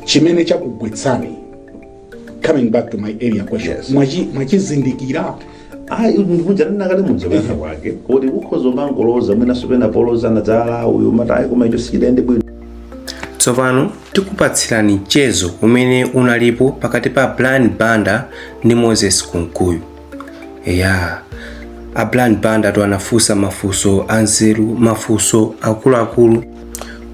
chimene chakugwetsani coming back to my earlier question Yes. mwachi- mwachizindikira ayi ndikuja ndinakale mudzapeza kwanga kuti kukhoza umangoloza mwinanso pena poloza na dzala uyu kapena ayi koma icho sichidayende bwino tsopano tikupatsirani mchezo umene unalipo pakati pa brian banda ndi moses kunkuyu ya a brian banda tu anafunsa mafunso anzeru mafunso akuluakulu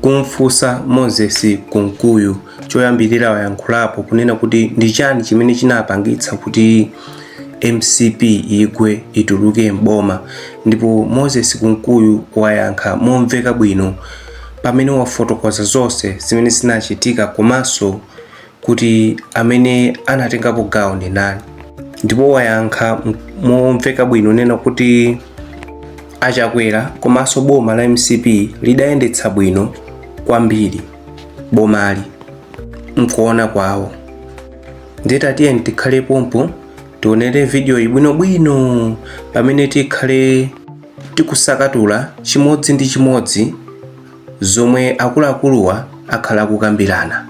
kumfunsa moses kunkuyu choyambirira wayankhulapo kunena kuti ndi chani chimene chinapangitsa kuti mcp igwe ituluke mboma ndipo moses kunkuyu wayankha momveka bwino pamene wafotokoza zonse zimene zinachitika komanso kuti amene anatengapo gawo ndi ndani ndipo wayankha m- momveka bwino kunena kuti achakwera komanso boma la mcp lidayendetsa bwino kwambiri bomali mkuona kwawo ndiye tatiyeni tikhale pompo tionere video iyi bwinobwino pamene tikhale tikusakatula chimodzi ndi chimodzi zomwe akuluakuluwa akhale akukambirana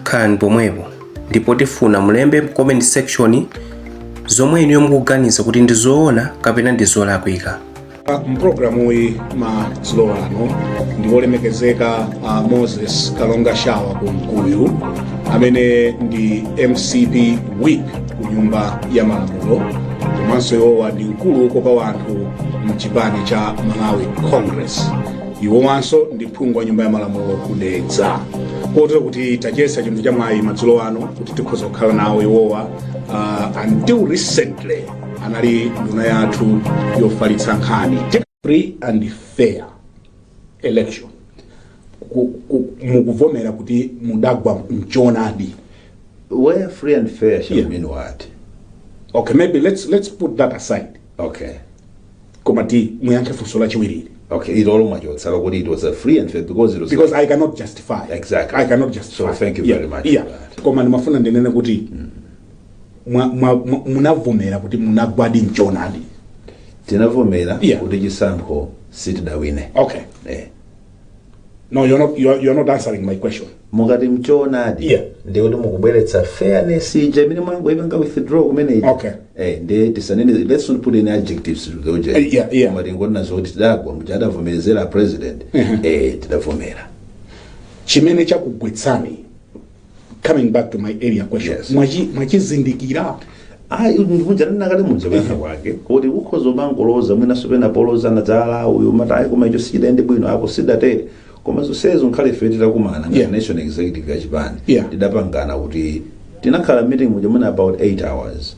khalani pomwepo ndipo tifuna mulembe mu comment section zomwe inuyo mukuganiza kuti ndi zoona kapena ndi zolakwika mpulogalamu iyi madzulo ano ndi olemekezeka a moses kalongashawa kunkuyu amene ndi mcp whip ku nyumba ya malamulo komanso iwowa ndi mkulu wokopa wanthu mchipani cha malawi congress iwowanso ndi phungu wa nyumba ya malamulo ku dedza kote kuti tachiyesa chinthu cha mwayi madzulo ano kuti tikhoza kukhala nawo iwowa uh, until recently anali nduna yathu yofalitsa nkhani free and fair election Ku- ku- mukuvomera kuti mudagwa mchonadi Where free and fair shall Yeah. mean what? okay maybe let's, let's put that aside Okay. koma kuti muyankhe funso lachiwiriri Okay, it all much was kuti it was a free and fair because it was because i cannot justify Exactly. i cannot justify So thank you yeah. very much yeah. for that. koma ndimafuna ndinene kuti mwa- mwa- mwa- munavomera kuti munagwadi mchonadi tinavomera Yeah. kuti chisankho sitidawine. okay Eh. No, you're not, you're, you're not answering my question. mukati mchoonadi Yeah. ndi kuti mukubweretsa fairness ija imene mwangoipanga withdraw kumene ija. Okay. eh ndiye tisanene let's not put any adjectives to the object Eh, yeah, yeah. Koma tingonena zoti tidagwa muja adavomerezera a president eh tidavomera Chimene chakugwetsani coming back to my earlier question Yes. Mwachi- mwachizindikira ayi ndikuja ndinakamba muja kuyankha kwake kuti ukhoza umangoloza mwinanso pena poloza nadzanena uyu mati ayi koma icho sichidayende bwino apo sidatere koma zonsezo nkhale ife titakumana ngati Yeah. national executive ya chipani Yeah. tidapangana kuti tinakhala meeting muja mwina about 8 hours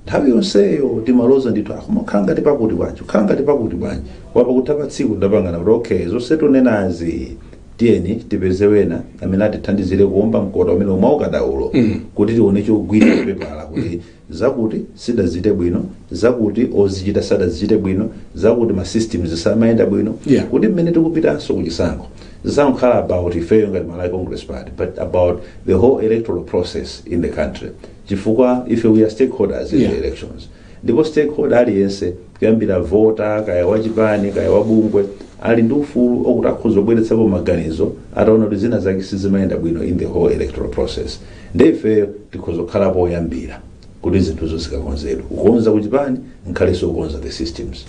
nthawi yonseyo timaloza ndithu ah koma nkhala ngati pakuti bwanji nkhala ngati pakuti bwanji koma pakutha pa tsiku tidapangana kuti okay zonse tunenazi tiyeni tipeze wena amene atithandizire kuomba mkota umene umaukadaulo kuti tione chogwira pepala kuti zakuti sidachite bwino zakuti ozichita sadazichite bwino zakuti ma systems samayenda bwino Yeah. kuti mmene tikupitanso kuchisankho zisangokhala about ifeyo ngati malawi congress party but about the whole electoral process in the country chifukwa ife we are stakeholders in Yeah. the elections Ndipo stakeholder aliyense, kuyambira voter, kaya wa chipani, kaya wa bungwe, ali ndi ufulu okuti akhoza kubweretsapo maganizo ataona kuti zina zake sizimayenda bwino in the whole electoral process. Nde ifeyo tikhoza kukhalapo oyambira kuti zinthuzo zikakonzedwe. Kukonza ku chipani, nkhalenso okonza the systems.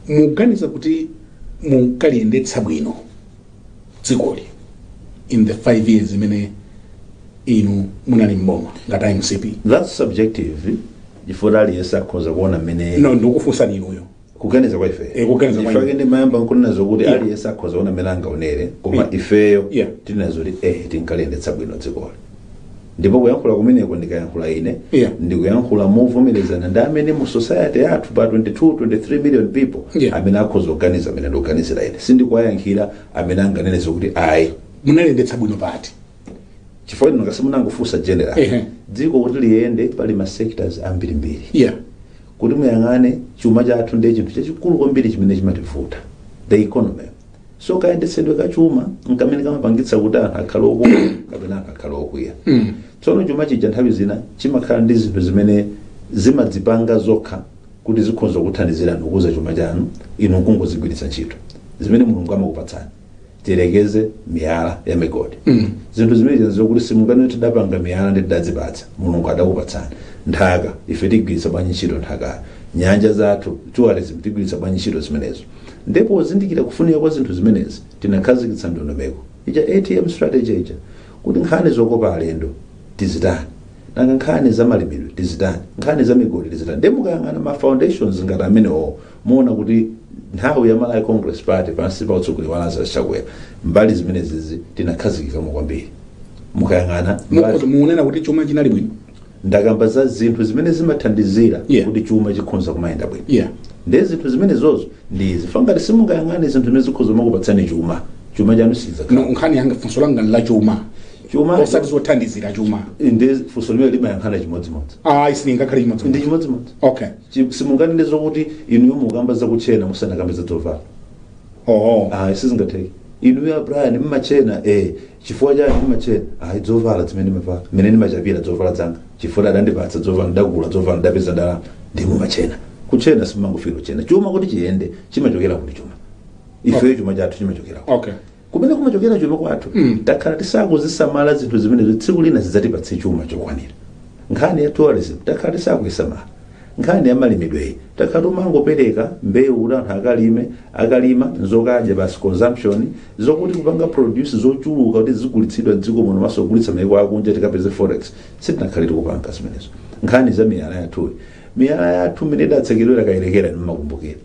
muganiza kuti munkaliyendetsa bwino dzikoli in the 5 years imene inu munali mboma ngati mcp that's subjective chifukwa aliyense akhoza kuona mmene no ndikufunsani inuyo kuganiza kwa ife Eh, kuganiza kwa ife. nchifukwa chake ndimayamba nkunena zokuti Yeah. aliyense akhoza kuona mmene angaonere koma Yeah. ifeyo Yeah. tinena zoti eh tinkaliyendetsa bwino dzikoli ndipo kuyankhula kumeneko ndikayankhula ine Yeah. ndikuyankhula movomerezana ndi amene mu society yathu pa 22 23 million people Yeah. amene akhoza kuganiza mmene ndikuganizira ine sindikuwayankhira amene anganene kuti ayi munaliyendetsa bwino but chifukwa inu ngati munangofunsa general Ehe. dziko kuti liyende pali ma sectors ambirimbiri yeah kuti muyang'ane chuma chathu ndiye chinthu chachikulu kwambiri chimene chimativuta the economy so kayendetsedwe ka chuma nkamene kamapangitsa kuti anthu akhale okondwa kapena anthu akhale okwiya tsono chuma chija nthawi zina chimakhala ndi zinthu zimene zimadzipanga zokha kuti zikhoza kuthandizirani kukuza chuma chanu inu nkungozigwiritsa ntchito zimene mulungu amakupatsani tiyerekeze miyala ya migodi zinthu zimene zina zokuti simungati tidapanga miyala nde tidadzipatsa mulungu adatipatsa nthaka ife tigwiritsa bwanji ntchito nthakayo nyanja zathu tourism tigwiritsa bwanji ntchito zimenezo Nde pozindikira kufunika kwa zinthu zimenezi tinakhazikitsa ndondomeko ija ATM Strategy ija kuti nkhani zokopa alendo tidzitani, nanga nkhani za malimidwe tidzitani, nkhani za migodi tidzitani. Nde mukayang'ana ma foundations ngati amenewowo muona kuti nthawi ya Malawi Congress Party pansi pa utsogoleri wa Lazarus Chakwera mbali zimenezizi tinakhazikikamo kwambiri. Mukayang'ana Mukhoza mbali kunena kuti chuma chinali bwino. ndakamba za zinthu zimene zimathandizira Yeah. kuti chuma chikhonza kumayenda bwino yeah ndiye zinthu zimenezozo ndi izi Pangati simungayang'ane zinthu zimene zikhoza kumakupatsani chuma chuma chanu sichidzakhala no nkhani yanga funso langa la chuma chuma osati zothandizira chuma ndi funso limene limayankhana chimodzimodzi ayi silingakhale ndi chimodzimodzi chimodzimodzi okay Chi- simunganene zokuti inuyo mukamba zakutchena musanakambe za zovala oh ah sizingatheke inuyo a Brian mmatchena eh Chifukwa chani ndimatchena? Ayi zovala zimene ndimavala, mmene ndimachapira zovala zanga chifukwa adandipatsa zovala ndidagula zovala ndidapeza ndalama ndiye mumatchena. Kutchena simumangofikira kutchena. Chuma kuti chiyende chimachokera kuti chuma. Ifeyo chuma chathu chimachokera kuti. Okay. Kumene kumachokera chuma kwathu Mm. takhala tisakuzisamala zinthu zimenezo tsiku lina sizidzatipatsa chuma chokwanira. Nkhani ya tourism takhala tisakuisamala. Nkhani ya malimidweyi takhala tikumangopereka mbewu kuti anthu akalime, akalima nzokadya basi, consumption, zokuti kupanga produce zochuluka kuti zizigulitsidwa mdziko muno komanso kugulitsa mayiko akunja tikapeze forex sitinakhale tikupanga zimenezo. Nkhani ya miyala yathuyi, miyala yathu mmene idatsekedwera Kayelekera inu mmakumbukira.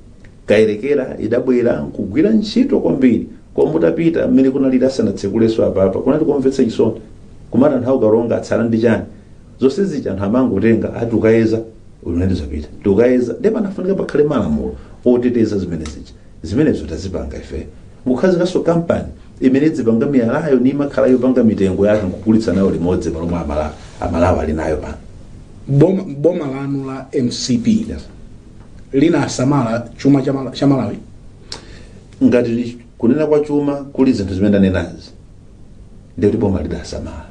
Kayelekera idabwera nkugwira ntchito kwambiri koma mutapita mmene kunalili asanatsekulenso apapa kunali komvetsa chisoni kumati anthu a ku Karonga atsala ndi chani? zonse zija anthu amangotenga ati tukayeza mmene zapita tikayeza ndiye panafunika pakhale malamulo oteteza zimene zija zimenezo tazipanga ife nkukhazikanso kampani imene idzipanga miyalayo ni imakhala yopanga mitengo yake nkugulitsa nayo limodzi pa zomwe amalawi amalawi ali nayo pano boma, boma lanu la mcp Yes. linasamala chuma cha Mala- cha malawi ngati kuyenda kwa chuma kuli zinthu zimene ndanenazi ndikuti boma lidasamala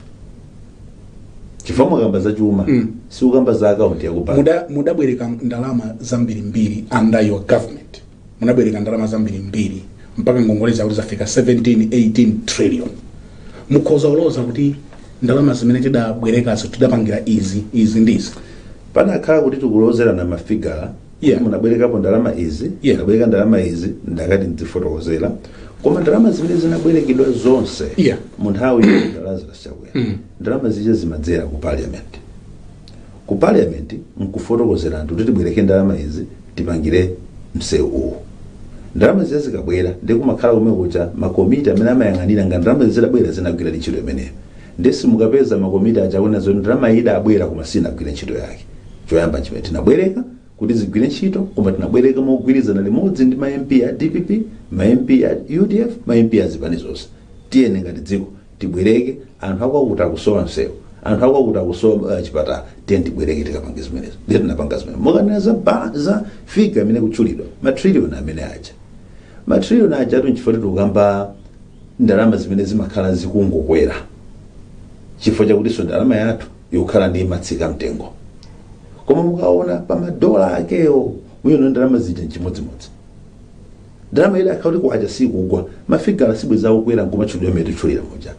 chifukwa mukamba za chuma Mm. sukamba za akaunti yakubanki Muda- mudabwereka ndalama zambirimbiri under your government munabwereka ndalama zambirimbiri mpaka ngongole zakuti zafika 17 18 trillion mukhoza kuloza kuti ndalama zimene tidabwerekazo tidapangira izi izi ndizi panakhala kuti tikulozerana mafigala yeah. kuti munabwerekapo ndalama izi Yeah. munabwereka ndalama izi ndakati ndidzifotokozera koma ndalama zimene zinabwerekedwa zonse Yeah. mu nthawi ya a Lazarus Chakwera Mm. ndalama zija zimadzera ku parliament ku parliament nkufotokozera anthu kuti tibwereke ndalama izi tipangire msewu uwu ndalama zija zikabwera ndi kumakhala kumwe kuja makomiti amene amayang'anira kuti ndalama zidabwera zinagwira ntchito imeneyo Nde simukapeza ma komiti aja akunena zoti ndalama iyi idabwera koma sinagwire ntchito yake. Choyamba nchimenecho tinabwereka kuti zigwire ntchito koma tinabwereka mogwirizana limodzi ndi ma MP a dpp, ma MP a udf, ma MP a zipani zonse. Tiyeni ngati dziko tibwereke, anthu akwakuti akusowa msewu, anthu akwakuti akusowa chipatala, tiyeni tibwereke tikapange zimenezo. Nde tinapanga zimenezo. Mukanena za ba, za figure imene ikutchulidwa, ma trillion amene aja. Ma trillion ajatu nchifukwa tikukamba ndalama zimene zimakhala zikungokwera chifukwa chakutinso ndalama yathu imakhala ndi kumatsika mtengo koma mukaona pa madola akewo muwona ndalama zija nchimodzimodzi ndalama ili akauti kwacha sikugwa mafigala sibwezi akukwera nkumatchulidwa mmene titchulira muja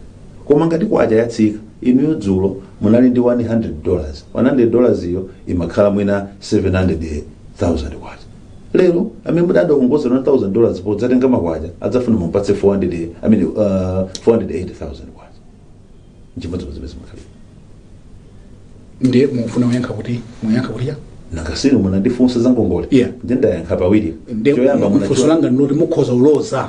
koma ngati kwacha yatsika inuyo dzulo munali ndi 100 dollars 100 dollars iyo imakhala mwina 700,000 kwacha lero amene munadzakongoza 1000 dollars podzatenga makwacha adzafuna mumpatse 400 i mean uh, 480000 kwacha nchimodzimodzi mmene zimakhalira ndiye mufuna kuyankha kuti muyankha kuti ya nanga si munandifunsa za ngongole Yeah. nde ndayankha pawiri ndiye choyamba funso munacho- langa ndinoti mukhoza kuloza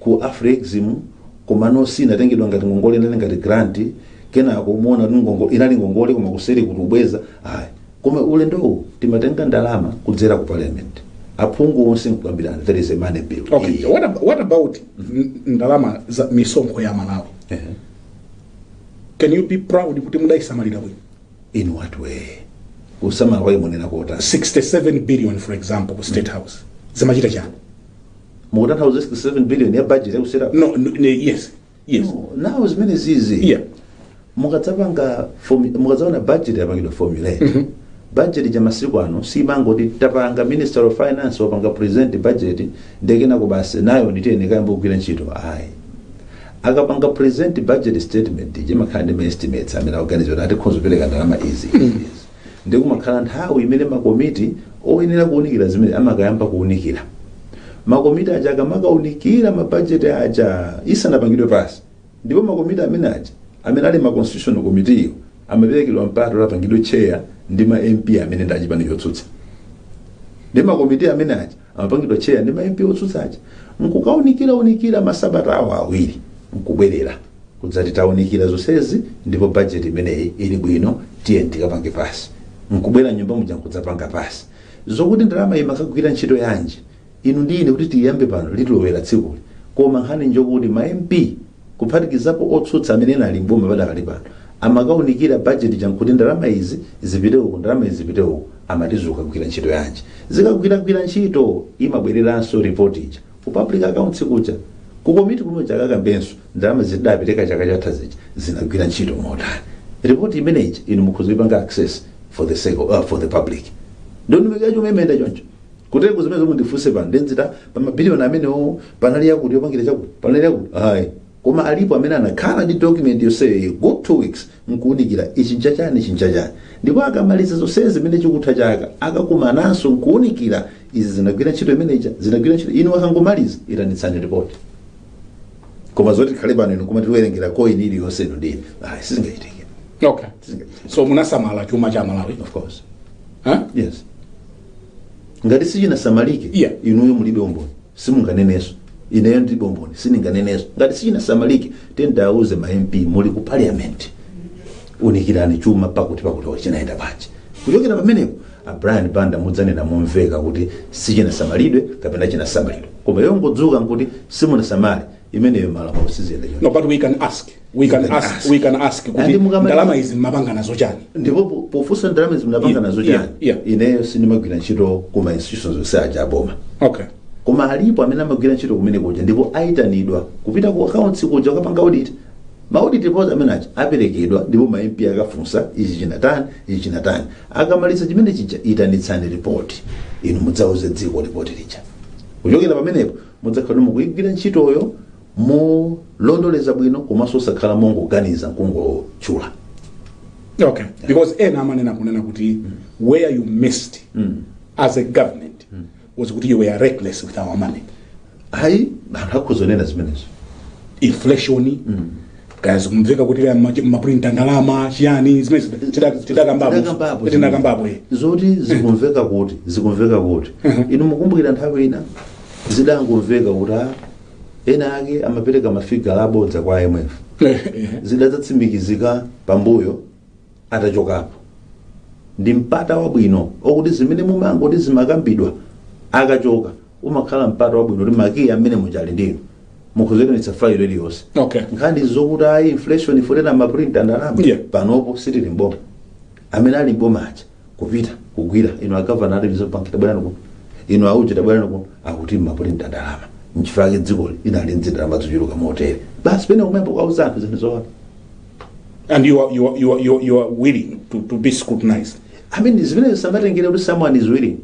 ku Afrexim komano sinatengedwa ngati ngongole inali ngati grant kenako muona kuti ngongo- inali ngongole koma kuseri kuti ubweza ayi koma ulendowu timatenga ndalama kudzera ku parliament aphungu onse nkukambirana there is a money bill okay Iyi. what, ab- what about n- ndalama za misonkho ya malawi Ehe. can you be proud kuti mudayisamalira bwino in what way kusamala kwake muonera kotani 67 billion for example ku state house zimachita chani mukutanthauza 67 billion ya budget yakutsera no, no, no yes yes nawo zimene zizi yeah mukadzapanga formu- mukadzaona budget yapangidwa formulate budget ya masiku ano simangoti tapanga minister of finance wapanga present budget nde kenako basi nayo tiyeni tikayambe kugwira ntchito ayi akapanga present budget statement imakhala ndi ma estimates amene akuganiza kuti tikhoza kupereka ndalama izi izi Ndiye kumakhala nthawi imene makomiti oyenera kuunikira zimene amakayamba kuunikira. Makomiti aja akamakaunikira mabajeti aja isanapangidwe pass, ndipo makomiti amene aja amene ali ma constitutional committee-wo amaperekedwa mpata kuti apangidwe chair ndi ma MP amene ndi achipani chotsutsa. Ndiye makomiti amene aja amapangidwa chair ndi ma MP otsutsa aja nkukaunikira unikira masabata awo awiri nkubwerera kudzati taunikira zonsezi ndipo bajeti imeneyi ili bwino tiyeni tikapange pass nkubwera m'nyumba muja nkudzapanga pass zokuti ndalama imakagwira ntchito yanji inu ndi ine kuti tiyambe pano litilowera tsikuli koma nkhani njokuti ma MP kuphatikizapo otsutsa amene ena ali m'boma padakali pano, amakaunikira budget ija nkuti ndalama izi zipite uku ndalama izi zipite uku amati zikagwira ntchito yanji. Zikakagwira ntchito imabwereranso report ija ku public accounts kuja ku komiti kuja akakaonenso ndalama zija tidapereka chaka chatha zija zinagwira ntchito motani. Report imene ija inu mukhoza kuipanga access for the sake of, uh, for the public. Ndondomeko ya chuma imayenda choncho. kutengo zimene zomwe ndifunse pano ndemvetsa pa mabiliyoni amenewo panali yakuti yopangira chakuti panali yakuti ayi koma alipo amene anakhala ndi document yonseyo good two weeks nkuunikira ichi nchachani ichi nchachani ndipo akamaliza zonsezi zimene chikatha chaka akakumananso nkuunikira izi zinagwira ntchito imeneja zinagwira ntchito inu akangomaliza itanitsani ripoti koma zoti tikhale pano inu kumati tiwerengera coin iliyonse inu ndine ayi sizingachitike okay sizingachitike so munasamala chuma cha malawi of course huh? yes ngati sichinasamalike Yeah. inuyo mulibe umboni simunganenenso ineyo ndilibe umboni sindinganenenso ngati sichinasamalike tikawauze ma mp muli ku parliament unikirani chuma pakuti pakuti chinayenda bwanji kuchokera pamenepo a brian banda mudzanena momveka kuti sichinasamalidwe kapena chinasamalidwe koma yongodzuka nkuti simunasamale imeneyo malamulo siziyenda choncho no but we can ask we can can ask ask. we can ask kuti Andi mukamati- ndalama izi mmapanga nazo chani ndipo po- pofunsa ndalama izi mnapanga nazo Yeah, chani yeah. ineyo sindimagwira ntchito ku ma institutions onse aja aboma okay koma alipo amene amagwira ntchito kumene kuja ndipo ayitanidwa kupita ku accounts kuja kukapanga audit ma audit reports amene aja akaperekedwa ndipo ma MP akafunsa ichi chinatani ichi chinatani akamaliza chimene chija itanitsani report inu mudzauze dziko report lija kuchokera pamenepo Mudzakhala kuti mukuigwira ntchitoyo molongosoka bwino komanso osakhala mongoganiza nkungotchula okay because ena amanena kunena kuti where you missed as a government was kuti you were reckless with our money ayi anthu akhoza kunena zimenezo inflation kaya zikumveka kuti kaya machi- amapulinta ndalama chiyani zimene Tidakambapo. tidakambapo tinakambapo eh. zoti zikumveka kuti zikumveka kuti inu mukumbukira nthawi ina zidangomveka kuti ah, ena ake amapereka mafigala abodza kwa imf Eh, eh. zidadzatsimikizika pambuyo atachokapo. Ndi mpata wabwino okuti zimene mumangoti zimakambidwa akachoka umakhala mpata wabwino kuti makiyi amene muja ali ndinu mukhoza kuitanitsa failo iliyonse Okay. nkhani zokuti ayi inflation ikunena amaprinta ndalama Yeah. panopo sitili mboma amene ali mboma aja kupita kukawauza inu agavana ali reserve bank tabwerani kuno inu auje tabwerani kuno akuti mumaprinta ndalama nchifukwa chake dzikoli inali ndi ndalama zochuluka motere basi kenako nkumakawauza anthu zinthu zoona and you are, you are, you are, you are, you are willing to, to be scrutinized i mean zimenezo sizimatengera kuti someone is willing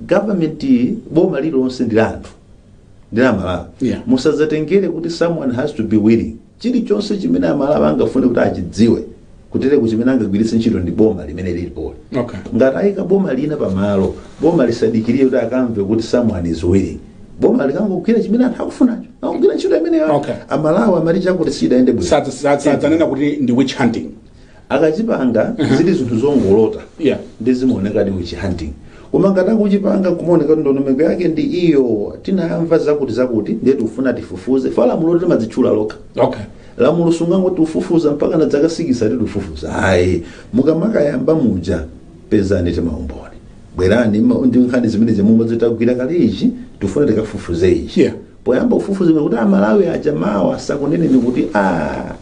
government boma lilonse ndi la anthu ndi la malawi Yeah. musadzatengere kuti someone has to be willing chilichonse chimene amalawi angafune kuti achidziwe kutereko chimene angagwiritse ntchito ndi boma limene lilipoli okay ngati ayika boma lina pamalo boma lisadikirire kuti akamve kuti someone is willing boma likangogwira chimene anthu akufunacho pogwira ntchito imeneyo Okay. amalawi amadziwa kuti sizidayende bwino Sadza- sadza- sadzanena kuti ndi witch hunting akachipanga ndi zinthu zongolota Yeah. ndi zimaoneka ndi witch hunting koma ngati akuchipanga kumaoneka kuti ndondomeko yake ndi iyo tinayamva zakuti zakuti ndiye tikufuna tifufuze paja lamulo limadzitchula lokha okay lamulo sungangoti ufufuza mpaka na dzaka sikisi tikufufuza ayi mukamakayamba muja pezani maumboni bwerani mma- ndi nkhani zimenezi momwe zitagwira kale ichi tifuna tikafufuze ichi Yeah. poyamba kufufuzako imene kuti amalawi aja mawa sakuneneni kuti a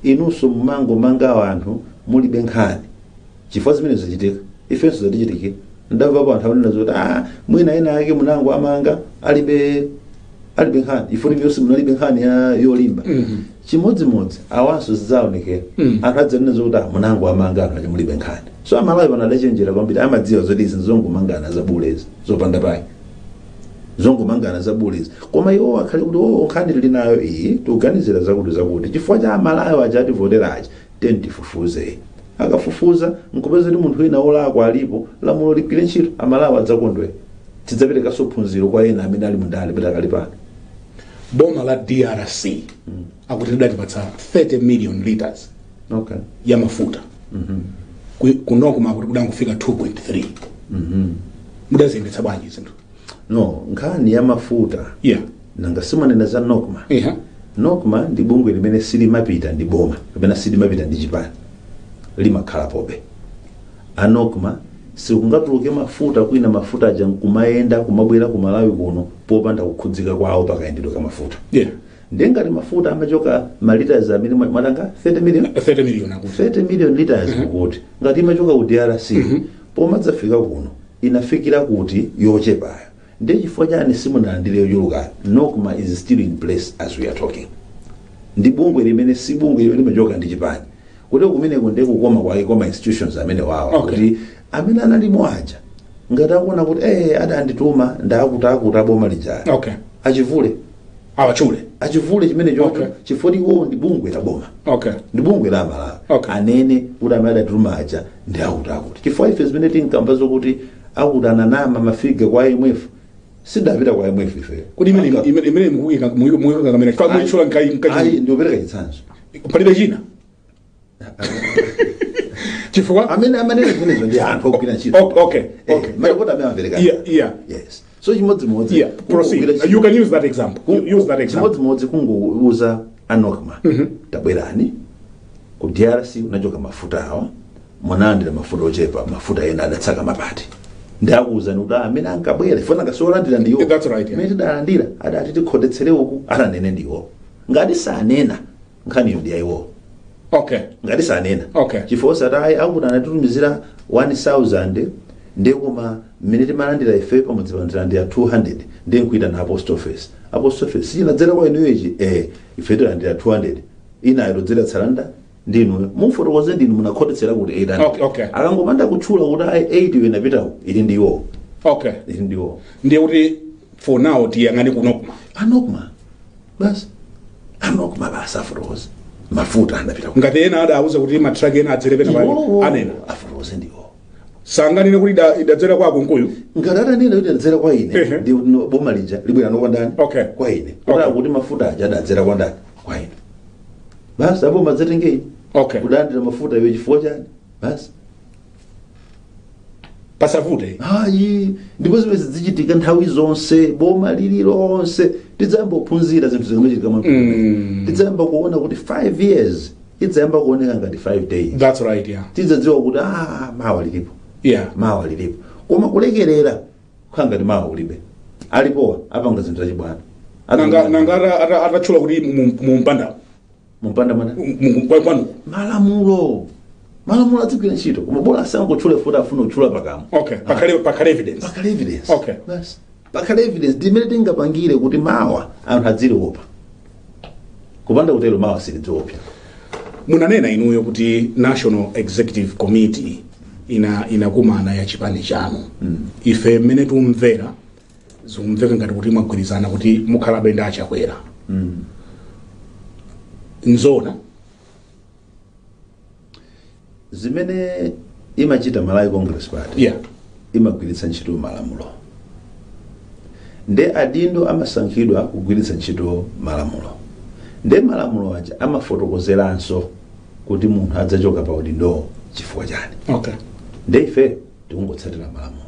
inunso mumangomanga anthu mulibe nkhani chifukwa zimene zachitika ifenso zatichitikira ndamvapo anthu akunena zoti a mwina ena ake munangowamanga alibe alibe nkhani ina iliyonse munalibe nkhani yolimba chimodzimodzi awanso zidzaonekera Mm. anthu adzanena zokuti "Ah, munangowamanga anthu koma mulibe nkhani so amalawi pano adachenjera kwambiri amadziwa zoti izi zongomangana zabulezi zopanda pake zongomangana zabulezi koma iwo akhale kuti o nkhani tili nayo iyi tikuganizira zakuti zakuti chifukwa cha amalawi aja ativotera aja tiyeni tifufuze akafufuza nkupeza kuti munthu wina wolakwa alipo lamulo ligwire ntchito amalawi adzakondwera tidzaperekanso phunziro kwa ena amene ali mundale pakali pano boma la drc akuti lidatipatsa 30 million liters okay ya mafuta Ku- kunoko akuti kudangofika 2.3 mudaziyendetsa bwanji zinthu no nkhani ya mafuta yeah nanga mukunena za nocma yeah nocma ndi bungwe limene silimapita ndi boma kapena silimapita ndi chipani limakhalapobe a nocma sikungatuluke mafuta kwina mafuta aja nkumayenda kumabwera ku malawi kuno popanda kukhudzika kwawo pa kayendetsedwe ka mafuta Yeah. ndiye ngati mafuta amachoka maliters amene mwa- mwatchula 30 million 30 million akuti 30 million liters kuti ngati imachoka ku drc pomadzafika kuno inafikira kuti yochepayo ndiye chifukwa chani simunalandire yochulukayo nocma is still in place as we are talking ndi bungwe limene si bungwe limene limachoka ndi chipani kuti kumeneko ndiye kukoma kwake kwa ma institutions amenewawa Okay. kuti amene analimo aja ngati akuona kuti eh adandituma ndi akutiakuti aboma lija okay atchule awatchule atchule chimenecho Okay. chifukwa choti iwowo ndi bungwe la boma okay ndi bungwe la malawi Okay. anene kuti amene adatituma aja ndi akuti akuti chifukwa ife zimene tinkamva zokuti akuti ananama mafigure kwa imf sidapita kwa imf ife kodi imene imene- imene mukuyika mukuyika kamera chifukwa mwatchula nkhani ayi nkhani ndiopereka chitsanzo palibe china chifukwa amene amanena zimenezo ndi anthu ogwira ntchito Ok- okay, Eh, okay. malipoti amene amapereka Yeah, yeah. yes so chimodzimodzi yeah kungogwira proceed ntchito- you can use that example Kung- use that example chimodzimodzi kungouza a NOCMA tabwerani ku drc unachoka mafuta awa munalandira mafuta ochepa mafuta ena adatsika pakati ndiye akuuzani kuti amene ankabwera iwo nanga si olandira ndiwo That's right, yeah. amene tidalandira adati tikhotetsere uku akanene ndiwo ngati sanena nkhaniyo ndi ya iwowo okay ngati sanena Okay. chifukwa osati ayi akuti ananditumizira 1000 ndi koma mmene timalandira ife pamodzi pano tilandira 200 ndi nkupita na post office a post office sichinadzera kwa inuyo ichi eh ife tilandira 200 inayo todzera tsalanda ndi inuyo mufotokoze ndinu munakhotetsera kuti 800 Okay, okay. akangopanda kutchula kuti ayi 8 iwe napitawo ili ndi iwowo okay ili ndi iwowo ndiye kuti for now tiyang'ane ku NOCMA a NOCMA basi a NOCMA basi afotokoze mafuta anapita kuti ngati ena adauza kuti matraki ena adzere pena pake anene afotokoze ndiwo akangonena kuti ida- idadzera kwa a Kunkuyu ngati atanena kuti adzera kwa ine Ehe. ndi kuti no- boma lija libwera ndi kwa ndani Okay. kwa ine Okay. kuti akuti mafuta aja adadzera kwa ndani kwa ine basi aboma adzanditenga Okay. kulandira mafuta iwe chifukwa chani basi pasavute ayi ndipo zimene zidzichitika nthawi zonse boma lililonse tidzayamba kuphunzira zinthu zikamachitika mwa Mm. tidzayamba kuona kuti 5 years idzayamba kuoneka ngati 5 days that's right yeah tidzadziwa kuti ah, mawa lilipo yeah mawa lilipo koma kulekerera kukhala ngati mawa kulibe alipowa apanga zinthu zachibwana nanga nanga ata- ata- atatchula kuti mu- mu- mumpanda mupanda mwana Mungu kwa kwanu. malamulo malamulo adzigwira ntchito koma bola asangotchule kuti afuna kutchula pakamwa Okay, pakhale pakhale evidence. pakhale evidence Okay. basi pakhale evidence ndimene tingapangire kuti mawa anthu adziliopa kupanda kutero mawa silidziopedwa Munanena inuyo kuti National Executive Committee inakumana ya chipani chanu. Ife mmene tumvera zikumveka ngati kuti mwagwirizana kuti mukhalabe ndi a Chakwera mm. nzona zimene imachita malawi congress party yeah. imagwiritsa ntchito malamulo nde adindo amasankhidwa kugwiritsa ntchito malamulo nde malamulo aja amafotokozeranso kuti munthu adzachoka pa udindowo chifukwa chani okay. nde ife tikungotsatira malamulo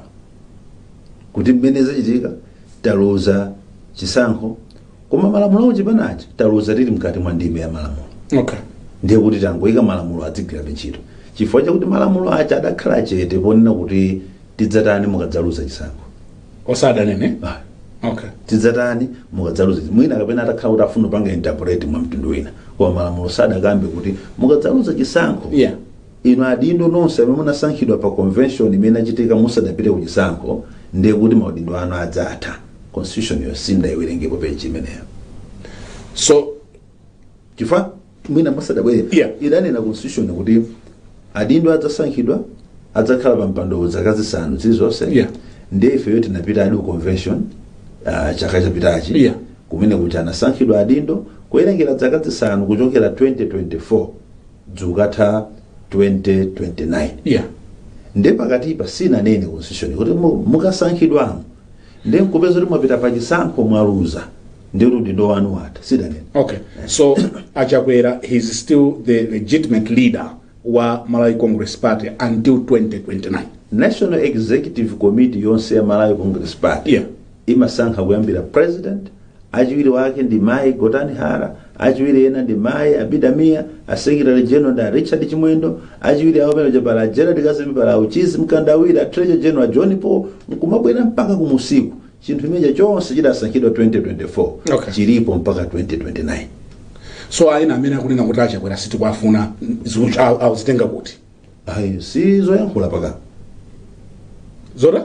kuti mmene zachitika taluza chisankho koma malamulo a kuchipanachi taluza tili mkati mwa ndime ya malamulo okay ndiye kuti tangoyika malamulo adzigwirabe ntchito chifukwa chakuti malamulo aja adakhala chete ponena kuti tidzatani mukadzaluza chisankho osadanene Ah, okay tidzatani mukadzaluza mwina kapena atakhala kuti afuna kupanga interpret mwa mtundu wina koma malamulo sadakambe kuti mukadzaluza chisankho yeah Inu adindo nonse amene munasankhidwa pa convention imene inachitika musadapite kuchisankho ndiye kuti maudindo anu adzatha. Constitution yo sindidaiwerengepo page imeneyo. So chifukwa mwina musadabwere Yeah. idanena constitution kuti adindo adzasankhidwa adzakhala pa mpandowo zaka zisanu zilizonse Yeah. ndiye ifeyo tinapitadi ku convention ah, chaka chapitachi Yeah. kumene kuti anasankhidwa adindo kuwerengera zaka zisanu kuchokera 2024 idzukatha 2029 yeah nde pakatipa sinanene constitution kuti mu- mukasankhidwamo nde nkupeza kuti mwapita pa chisankho mwaluza ndi kuti udindo wanu watha sidanene okay so achakwera he is still the legitimate leader wa malawi congress party until 2029 national executive committee yonse ya malawi congress party yeah imasankhidwa kuyambira president, achiwiri wake ndi mayi Gotani Hara, achiwiri ena ndi mayi Abida Mia, a secretary general ndi a Richard Chimwendo, achiwiri awo pamene pali a Gerald Kazembe, pali a Uchizi Mkandawire, a treasurer general a John Paul, nkumabwera mpaka kumusiku chinthu chimenecho chonse chidasankhidwa 2024 Okay. chilipo mpaka 2029 so ena amene akunena kuti achakwera sitikwafuna zikuti aku- akuzitenga kuti ayi si zoyankhula paka zota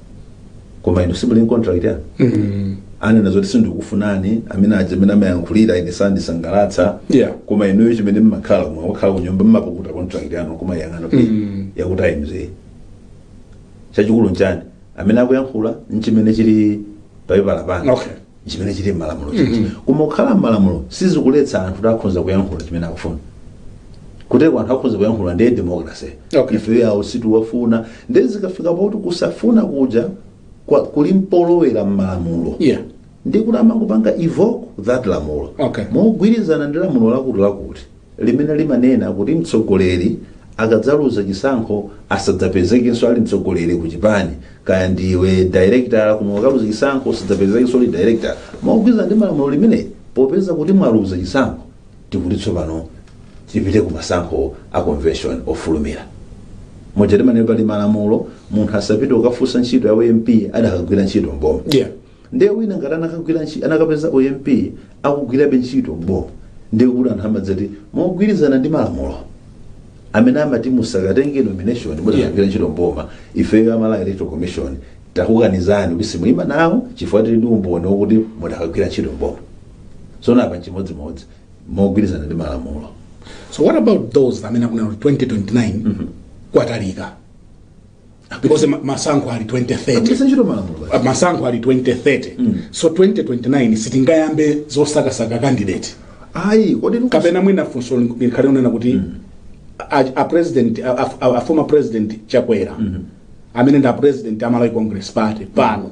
koma inu simuli contract ya Mm. anena zoti sindikufunani amene aja amene amayankhulira ine sandisangalatsa Yeah. koma inuyo chimene mmakhala mwa mwakhala kunyumba mmapukuta contract yanu kumayang'ana kuti Mm. yakuti ayimzeye chachikulu nchani amene akuyankhula nchimene chili papepala pano Okay. chimene chili m'malamulo chija koma kukhala m'malamulo sizikuletsa anthu kuti akhoza kuyankhula chimene akufuna kuteko anthu akhoza kuyankhula ndiye democracy Okay. ife awa sitikuwafuna ndiye zikafika pakuti kusafuna kuja kwa- kuli mpolowera m'malamulo Yeah. ndi kuti amangopanga evoke that lamulo Okay. mogwirizana ndi lamulo lakuti lakuti limene limanena kuti mtsogoleri akadzaluza chisankho asadzapezekenso ali mtsogoleri ku chipani kaya ndiwe director koma ukaluza chisankho usadzapezekenso uli director mogwirizana ndi malamulo limeneli popeza kuti mwaluza chisankho tikuti tsopano tipite ku masankho a convention ofulumira moja timanena pali malamulo munthu asapite kukafunsa ntchito ya u-MP adakagwira ntchito mboma yeah Ndiye wina ngati anakagwira ntchito anakapeza u MP akugwirabe ntchito bho ndiye kuti anthu amadzati mogwirizana ndi malamulo amene amati musakatenge nomination Yeah. mukugwira ntchito mboma ifeyo a Malawi electoral commission takukanizani kuti simuima nawo chifukwa tili ndi umboni wokuti mudakagwirabe ntchito mboma so naapa chimodzimodzi mogwirizana ndi malamulo so what about those amene akunena kuti 2029 kwatalika because ma- masankho ali 2030 Agwiritsa ntchito malamulo basi. masankho ali 2030 so 2029 sitingayambe zosakasaka candidate Ayi, kodi mukuti- kapena mwina funso likhale lonena kuti a, a president a, a, a, a former president chakwera amene ndi a president a malawi congress party pano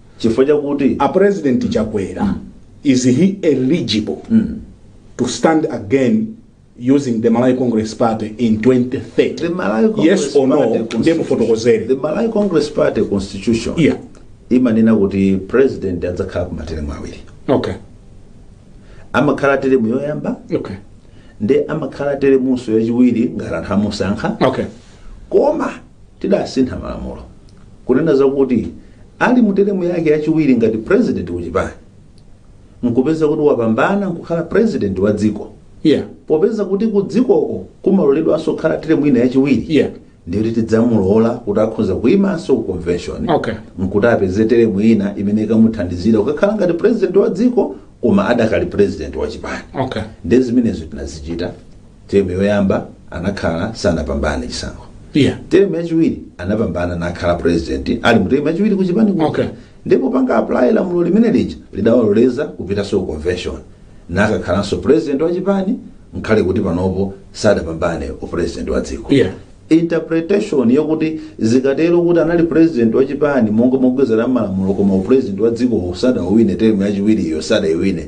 chifukwa chakuti a president chakwera mm. is he eligible mm. to stand again using the malawi congress party in 2030 the malawi congress yes or no ndiye mufotokozere the malawi congress party constitution yeah. imanena kuti president adzakhala kwa materemu awiri okay amakhala teremu yoyamba okay ndi amakhala teremunso yachiwiri ngati anthu amusankha okay koma Tidasintha malamulo kunena za kuti ali mu teremu yake yachiwiri ngati president ku chipani nkupeza kuti wapambana nkukhala president wa dziko, Yeah. popeza kuti ku dzikoko kumaloledwanso kukhala teremu ina yachiwiri, Yeah. ndiye kuti tidzamulola kuti akhoza kuyimanso ku convention Okay. nkuti apeze teremu ina imene ikamuthandizira kukakhala ngati president wa dziko koma adakali president wa chipani Okay. ndiye zimenezo tinazichita Term yoyamba anakhala sanapambane chisankho. Yeah. Term yachiwiri anapambana nakhala president ali mu term yachiwiri ku chipani kuja. Okay. Ndipo popanga apply lamulo limene lija lidawaloleza kupitanso ku convention. Nakakhalanso president wa chipani ngakhale kuti panopo sadapambane u president wa dziko. Yeah. interpretation yakuti zikatero kuti anali president wa chipani monga mogwirizana malamulo koma u president wa dziko sadawine term yachiwiriyo sadaiwine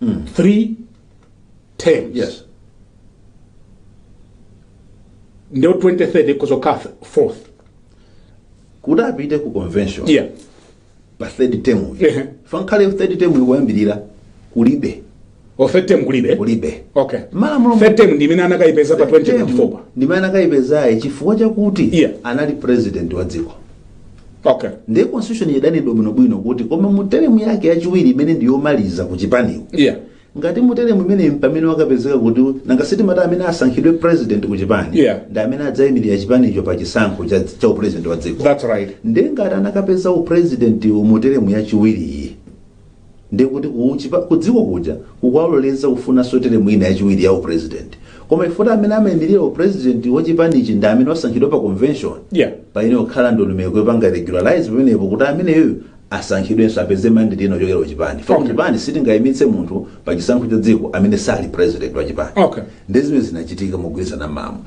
mm. three terms yes ndiye 2030 ikhoza kukhala fourth kuti apite ku convention yeah pa third term uyu Ehe. fankhale third term uyu kuyambirira kulibe or third term kulibe kulibe okay malamulo third term ndi imene anakayipeza pa 2024 ndimene anakayipezayo chifukwa chakuti Yeah. anali president wa dziko okay ndiye constitution idanenedwa bwinobwino kuti koma mu teremu yake yachiwiri imene ndi yomaliza ku chipaniko yeah ngati mu teremu imeneyi mpamene wakapezeka kuti nanga sitimati amene asankhidwe president ku chipani Yeah. ndi amene adzayimirira chipanicho pa chisankho cha, cha upresident wa dziko that's right ndiye ngati anakapeza upresident mu teremu yachiwiriyi Ndiye kuti ku chipa, ku dziko kuja kukawaloleza kufunanso teremu ina yachiwiri ya upresident. Koma chifukwa amene amayimirira upresident wa chipanichi ndi amene wasankhidwa pa convention, Yeah. payenera kukhala ndondomeko yopanga regularize pamenepo kuti ameneyo asankhidwenso apeze mandate ina kuchokera ku chipani. Chifukwa Okay. chipani sitingayimitse munthu pa chisankho cha dziko amene sali president wa chipani. Okay. Ndi zimene zinachitika mogwirizana mamo.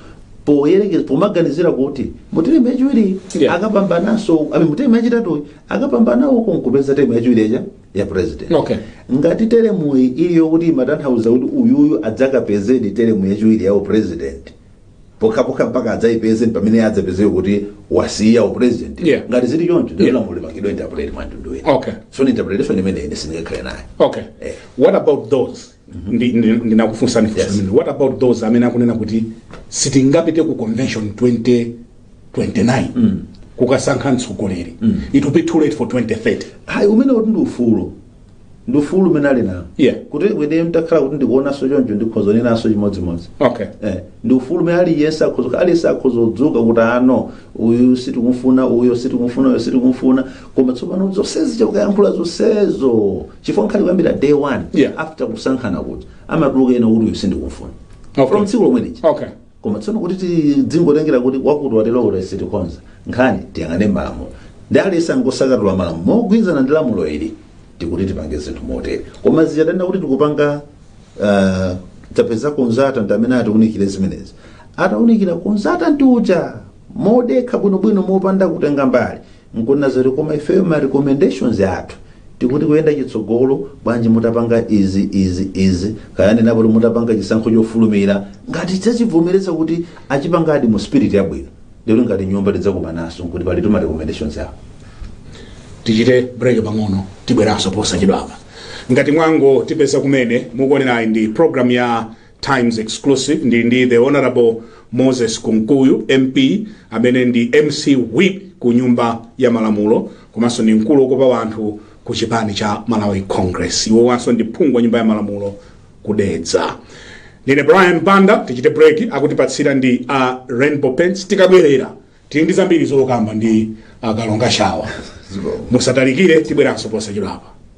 Poyerekeza pomaganizira kuti mu teremu yachiwiri Yeah. akapambananso, ami mu teremu yachitatu akapambana uko nkupeza temu yachiwiri yacha ya president Okay. ngati teremuyi ili yokuti imatanthauza kuti uyuyu adzakapezedi teremu yachiwiri ya upresident pokhapokha mpaka adzayipeze ndi pamene adzapezeke kuti wasiya upresident Yeah. ngati zili choncho Yeah. ndiye lamulo lipangidwa interpret mwamtundu wina Okay. so ndi interpretation imene ine sindingakhale nayo okay Eh. what about those Ndi- ndi- ndinakufunsani funso Yes. limene. what about those amene akunena kuti sitingapite ku convention 2029 kukasankha mtsogoleri it will be too late for 2030 ayi umene kuti ndi ufulu ndi ufulu umene ali nawo Yeah. kuti ine nditakhala kuti ndikuonanso choncho ndikhoza kunenanso chimodzimodzi okay Eh, ndi ufulu umene aliyense akhoza aliyense akhoza kudzuka kuti ano uyu sitikumufuna uyo sitikumufuna uyo sitikumufuna koma tsopano zonsezi chaukuyankhula zonsezo chifukwa nkhani kuyambira day one Yeah. after kusankhana kuti amatuluka ena kuti uyu sindikufuna Okay. from tsiku lomwe lija okay koma tsono kuti tidzingotengera kuti wakuti watero kuti sitikonza nkhaniyi tiyang'ane malamulo ndi aliyense angosakatula malamulo mogwirizana ndi lamulo ili tikuti tipange zinthu motere koma zichadanena kuti tikupanga ah, tapeza consultant amene atiunikire zimenezi ataunikira consultant uja modekha bwinobwino mopanda kutenga mbali Nkunena zoti koma ifeyo ma recommendations athu tikuti kuyenda chitsogolo bwanji mutapanga izi izi izi kaya anenapo kuti mutapanga chisankho chofulumira ngati tidzachivomereza kuti achipangadi mu spirit yabwino ndikuti ngati nyumba tidzakumananso nkuti palitu ma recommendations awo tichite break pang'ono tibweranso posachedwapa ngati mwangotipeza kumene mukuonerayi ndi program ya Times Exclusive ndili ndi the Honorable Moses Kunkuyu MP amene ndi MCP Whip ku nyumba ya malamulo komanso ndi mkulu okopa wanthu ku chipani cha Malawi Congress iwo wanso ndi phungu wa nyumba ya malamulo ku Dedza ndine Brian Banda tichite break akutipatsira ndi a uh, Rainbow Paints tikabwerera tili ndi zambiri zokamba ndi akalonga uh, shawa musatalikire tibweranso posachedwapa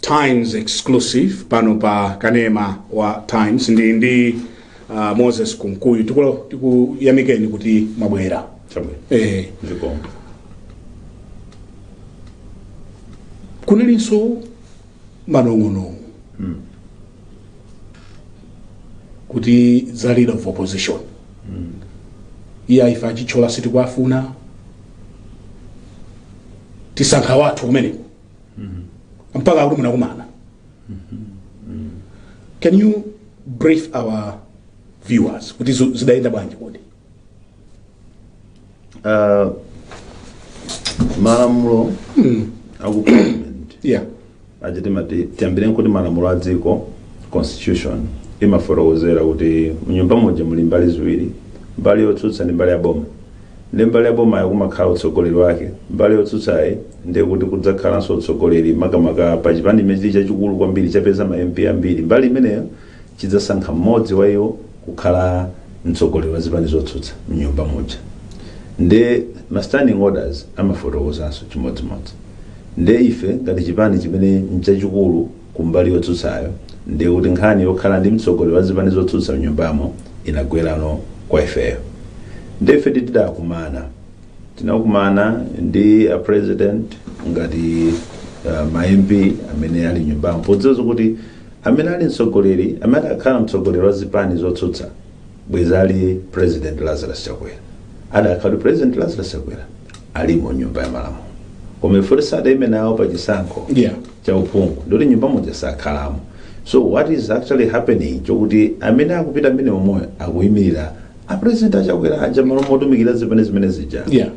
Times exclusive pano pa kanema wa Times ndi ndi uh, Moses Kunkuyu tiku- tikuyamikeni kuti mwabwera Chabwino. eh Zikomo. kunalinso manong'onong'o kuti za leader of opposition iye a Chithyola sitikuwafuna tisankha wathu kumeneko mpaka akuti munakumana can you brief our viewers kuti zo- zidayenda bwanji kodi Uh, malamulo aku parliament yeah atiti mati tiyambire nkuti malamulo a dziko constitution imafotokozera kuti mnyumba muja muli mbali ziwiri mbali yotsutsa ndi mbali ya boma Nde mbali ya bomayo kumakhala utsogoleri wake, mbali yotsutsayi nde kuti kudzakhalanso utsogoleri makamaka pa chipani chimene chili chachikulu kwambiri chapeza ma MP ambiri, mbali imeneyo chidzasankha mmodzi wa iwo kukhala mtsogoleri wa zipani zotsutsa mnyumba muja. Nde ma standing orders amafotokozanso chimodzimodzi. Nde ife ngati chipani chimene nchachikulu. kumbali yotsutsayo ndiye kuti nkhani yokhala ndi mtsogoleri wa zipani zotsutsa mnyumbamo inagwerano kwa ifeyo ndiye ife tidakumana tinakumana ndi a president ngati uh, ma mp amene ali mnyumbamo podziwa kuti amene ali mtsogoleri amene atakhale mtsogoleri wa zipani zotsutsa bwezi ali president lazarus chakwera adakhala kuti president lazarus chakwera ali mnyumba ya malamulo koma poti sadaime nawo pa chisankho Yeah. cha uphungu ndekuti mnyumba muja sakhalamo so what is actually happening chokuti amene akupita amene omwe akuyimirira apresident achakwera aja malo motumikira zimene zimene zija Yeah.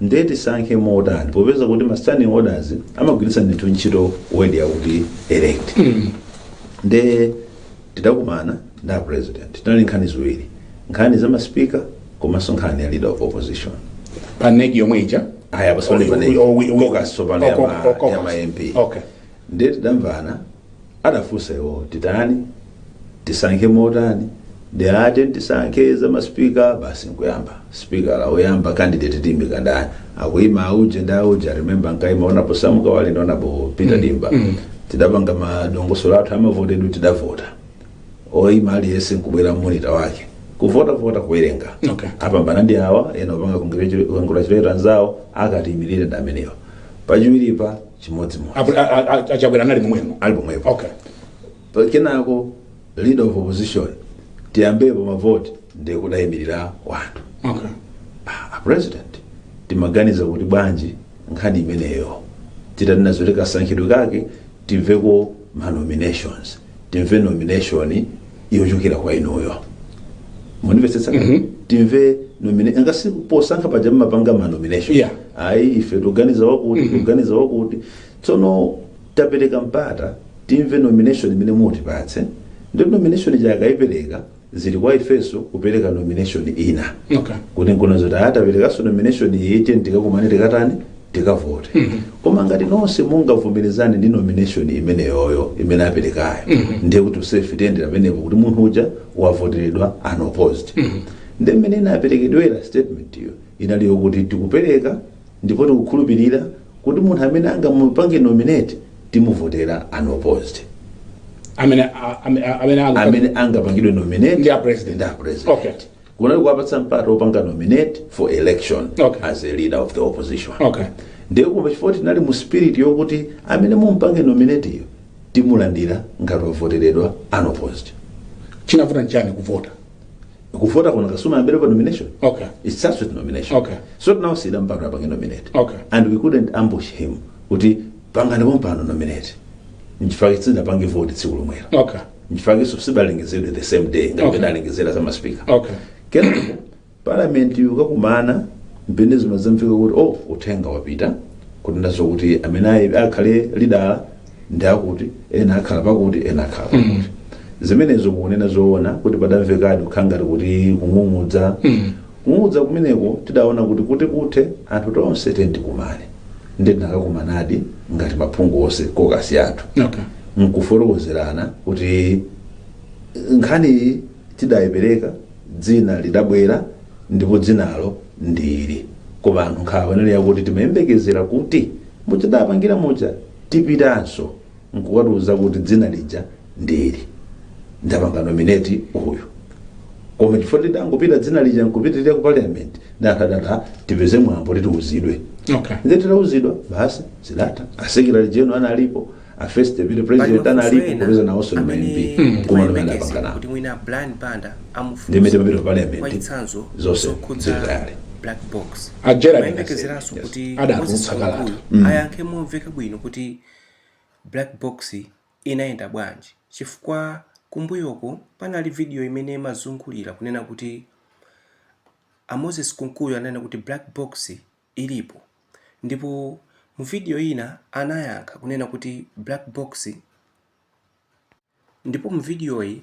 ndiye tisankhe motani popeza kuti ma standing orders amagwiritsa ndithu ntchito word yakuti elect nde Tidakumana ndi a President tinali nkhani ziwiri, nkhani za ma speaker komanso nkhani ya leader of opposition. pa nec yomwe ija Ayi pa Sunday pa nec, Oh, we- we- caucus tsopano ya oh, ma- oh, caucus. ya ma MP. okay Ndiye tidamvana adafunsa iwo titani tisankhe motani ndi ati tisankhe za ma speaker basi nkuyamba. Sipikala woyamba candidate Tiimika ndani akuima auje ndi auje I remember ankaima honorable Sam Kawale ndi honorable Peter Dimba tidapanga madongosolo athu amavotedwe tidavota oima aliyense nkubwera mmonita wake kuvota vota kuwerenga Okay. apambana ndi awa ena opanga congratulate anzawo akatiimirire ndi amenewa wachiwiri chimodzimodzi Apo- a- a- a- achabwera anali momwemo ali pomwepo okay Kenako leader of opposition tiyambepo mavoti ndiye kudayimirira anthu Okay. a president timaganiza kuti bwanji nkhani imeneyo titani nazo kasankhidwe kake timveko ma nominations timve nomination yochokera kwa inuyo mundimvetsetsa timve nomine- ngati posankha paja mmapanga ma nomination Yeah. ayi ife tuganiza wakuti tuganiza wakuti Tsono tapereka mpata timve nomination imene mutipatse ndipo nomination ija akaipereka zili kwa ifenso kupereka nomination ina Okay. kuti tikuona zoti ah taperekanso nomination iyi tiyeni tikakumane tikatani tikavote koma ngati nonse mungavomerezane ndi nomination imeneyoyo imene aperekayo ndiye kuti ifefe tiyendera pamenepo kuti munthu uja wavoteredwa unopposed ndi mmene inaperekedwera statement iyo inali yokuti tikupereka Ndipo tikukhulupilira kuti munthu amene angamupange nominate timuvotera unopposed. Amene a- ame- a- amene anga- Amene angapangidwe nominate Ndi a president. ndi a president. Okay. Kuona kuti kuwapatsa mpata opanga nominate for election Okay. as a leader of the opposition. Okay. Ndiye kumva chifukwa tinali mu spirit yokuti amene mumpange nominate-yo timulandira ngati wavoteredwa unopposed. Chinavuta nchani kuvota? kuvota kunkayenera kuyambira pa nomination okay it starts with nomination Okay. so now tidampatsa apange nominate Okay. and we couldn't ambush him kuti pangani pompano nominate nchifake sitidapange vote tsiku lomwera okay nchifake so sidalengezedwe the same day Okay. koti tidalengeza kwa a speaker okay kenako parliament ikakumana mpomwe zimazamveka kuti oh uthenga wapita kutinso kuti amene ayi- akhale leader ndi akuti ena akhala pakuti ena akhala pakuti zimenezo mukunena zoona kuti padamvekadi kukhala ngati kuti kung'ung'udza kung'ung'udza kumeneko tidaona kuti kuti kuthe anthu tonse tiyeni tikumane ndiye tinakakumanadi ngati maphungu onse kokasi athu okay. nkufotokozerana kuti nkhaniyi tidayipereka dzina lidabwera ndipo dzinalo ndi ili koma anthu nkhawa inali yakuti timayembekezera kuti mutadapangira muja tipitanso nkukatiuza kuti dzina lija ndi ili ndapanga nominate uyu koma chifukwa tidangopita dzina lija nkupitirira ku parliament tikadali tipeze mwambo titiuzidwe okay nde titauzidwa basi zidatha asekretary general analipo a first deputy president analipo popeza nawonso ndi ma mp koma nomwe adapanga nawo kuti mwina Brian Banda amufunsa ndimene papita ku parliament mwachitsanzo zonse zokhudza zilitali black box a Gerald timayembekezeranso Kasembe, kuti yes, adatulutsa moses kalata kunkuyu Mm. ayankhe momveka bwino kuti black box inayenda bwanji chifukwa kumbuyoko panali video imene imazungulira kunena kuti a moses kunkuyu ananena kuti black box ilipo ndipo mu video ina anayankha kunena kuti black box Ndipo mu vidiyoyi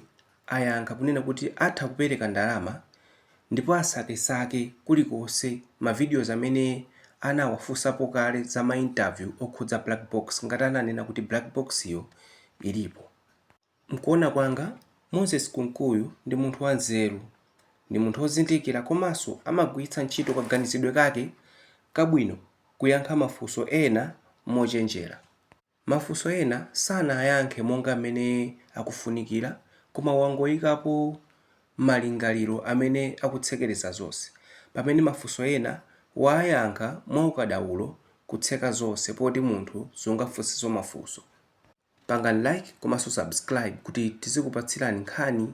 ayankha kunena kuti atha kupereka ndalama ndipo asakesake kulikonse ma videos amene anawafunsapo kale za ma interview okhudza black box ngati ananena kuti black box yo ilipo. Mkuona kwanga Moses Kunkuyu ndi munthu wa nzeru, ndi munthu ozindikira komaso amagwiritsa ntchito kaganizidwe kake kabwino kuyankha mafunso ena mochenjera. Mafunso ena sanayankhe monga mmene akufunikira koma wangoikapo malingaliro amene akutsekereza zonse, pamene mafunso ena waayankha mwaukadaulo kutseka zonse poti munthu sungafunsenso mafunso. Pangani like komanso subscribe kuti tizikupatsirani nkhani.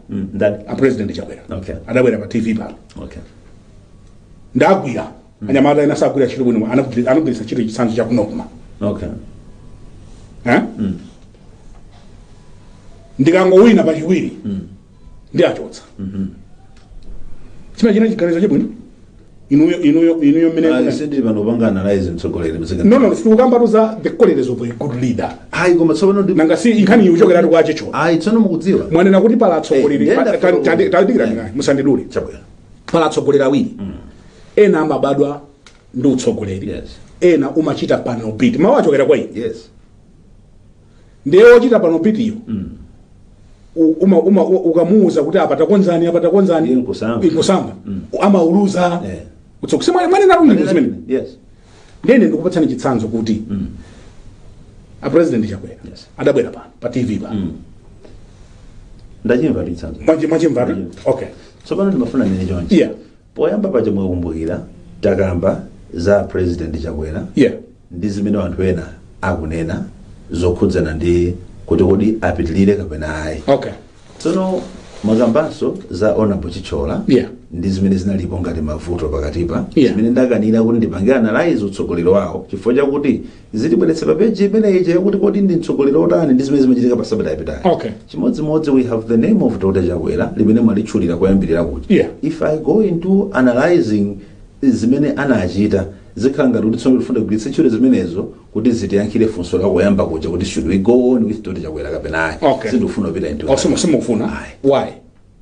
Mm, ndani? a president chakwera Okay. adabwera pa tv pano Okay. ndagwira anyamata ena sakugwira ntchito bwino anagwiri- anagwiritsa ntchito chitsanzo cha kunokuma Okay. Eh? ndikangowina pachiwiri ndiwachotsa chimene china chiganizo chabwino inuyo inuyo inuyo mmene Ayi, sidi panopa nga analyze mtsogoleri mzika no no sitikukambatu za the qualities of a good leader ayi koma tsopano ndi nanga si nkhani iyi ikuchokeratu kwa Che Cho ayi tsono mukudziwa mwanena kuti pali atsogoleri Eh, ndenda pa- ta- ta- ta- tadikirani naye, musandidule chabwera pali atsogoleri awiri ena amabadwa ndi utsogoleri Yes. ena umachita panel beat mawu achokera kwa iyi yes ndiye wochita panel beat-yo u- uma, uma, u- ukamuuza kuti apa takonzani apa takonzani Iye nkusamba. nkusamba amauluza Eh. kutsoka simwe mwanena rundi zimene yes nde nde ndikupatsani chitsanzo kuti a president chakwera Yes. adabwera pano pa tv pa ndachimva chitsanzo mwachimvatu okay tsopano ndimafuna ndinene chonchi yeah Poyamba paja mukakumbukira takamba za President Chakwera Yeah. ndi zimene anthu ena akunena zokhudzana ndi kuti kodi apitilire kapena ayi. Okay. Tsono mwakambanso za Honorable Chithyola Yeah. ndi zimene zinalipo ngati mavuto pakatipa Yeah. zimene ndakanira kuti ndipange analyze utsogoleri wawo chifukwa chakuti zitibweretse pa page imene ija yakuti kodi ndi mtsogoleri otani ndi zimene zimachitika pa sabata yapitayo Okay. chimodzimodzi we have the name of dr chakwera limene mwalitchula koyambirira kuti Yeah. if i go into analyzing zimene anachita zikhala ngati kuti tsopano tifuna kugwiritsa ntchito zimenezo kuti zitiyankhire funso lakoyamba kuja kuti should we go on with dr chakwera kapena ayi Okay. sindikufuna kupita into that. Osimo simukufuna. Ayi. Why?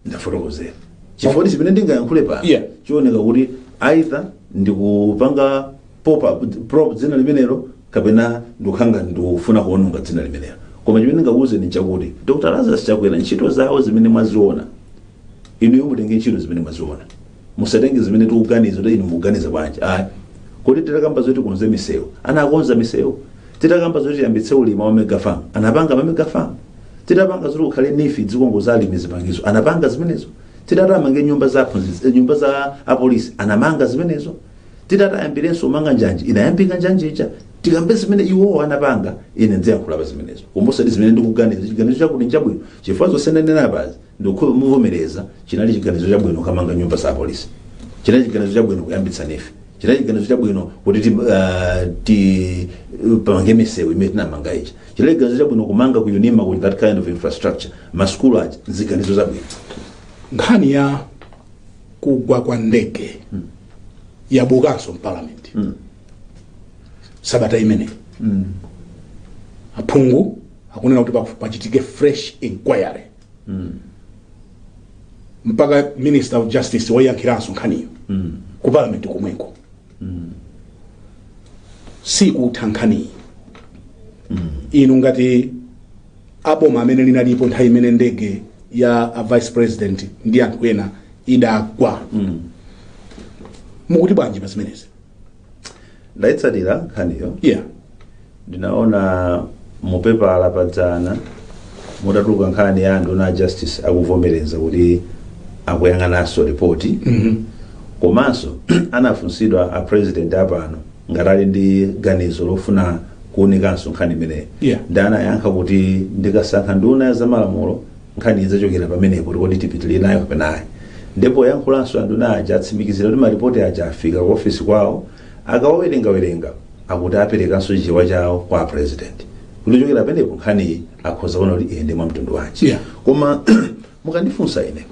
ndafotokozera chifukwa kuti chimene ndingayankhule pano Yeah. chioneka kuti either ndikupanga pop up prop dzina limenelo kapena ndikukhanga ndikufuna kuwononga dzina limenelo koma chimene ndingakuuze ni chakuti dr lazarus chakwera ntchito zawo zimene mwaziona inuyo mutenge ntchito zimene mwaziona musatenge zimene tikuganiza kuti inu muganiza bwanji ayi kodi titakamba zoti akonze misewu anakonza misewu titakamba zoti tiyambitse ulimi wa ma mega farm anapanga ma mega farm titapanga zoti kukhale NEEF zikongo za alimi zipangizo anapanga zimenezo titati amange nyumba za aphunzitsi eh, nyumba za apolisi anamanga zimenezo titati ayambirenso kumanga njanji inayambika njanji ija tikambe zimene iwowo anapanga ine ndiziyankhula pa zimenezo komano osati zimene ndikuganiza chiganizo chakuti n'chabwino chifukwa zonse ndanena apazi Ndikukhoza kuvomereza, chinali chiganizo chabwino kukamanga nyumba za apolisi, chinali chiganizo chabwino kuyambitsa NEEF, chinali chiganizo chabwino kuti ti, ah, timange misewu imene tinamanga ija, chinali chiganizo chabwino kumanga ku UNIMA ku that kind of infrastructure, masukulu aja, ziganizo zabwino. nkhani ya kugwa kwa ndege yabukanso m'palamenti sabata imeneyi aphungu akunena kuti pafu- pachitike fresh inquiry mpaka minister of justice oyankhiranso nkhaniyo ku parliament komweko sikutha nkhaniyi inu ngati aboma amene linalipo nthawi imene ndege ya a vice president ndi anthu ena idagwa mukuti bwanji pa zimenezi ndaitsatira nkhaniyo yeah ndinaona mupepala padzana mutatuluka nkhani ya nduna ya justice akuvomereza kuti akuyang'ananso ripoti komanso anafunsidwa a president apano ngati ali ndi ganizo lofuna kuunikanso nkhani imeneyi Yeah. ndi anayankha kuti ndikasankha nduna ya zamalamulo Nkhani idzachokera pamenepo kuti kodi tipitilire nayo kapena ayi. Nde poyankhulapo anduna aja atsimikizira kuti malipoti aja afika ku ofesi kwawo, akawawerengawerenga akuti aperekanso Chichewa chawo kwa a president kuti kuchokera pamenepo nkhaniyi akhoza kuona kuti iyende mwa mtundu wanji. Yeah. Koma mukandifunsa ine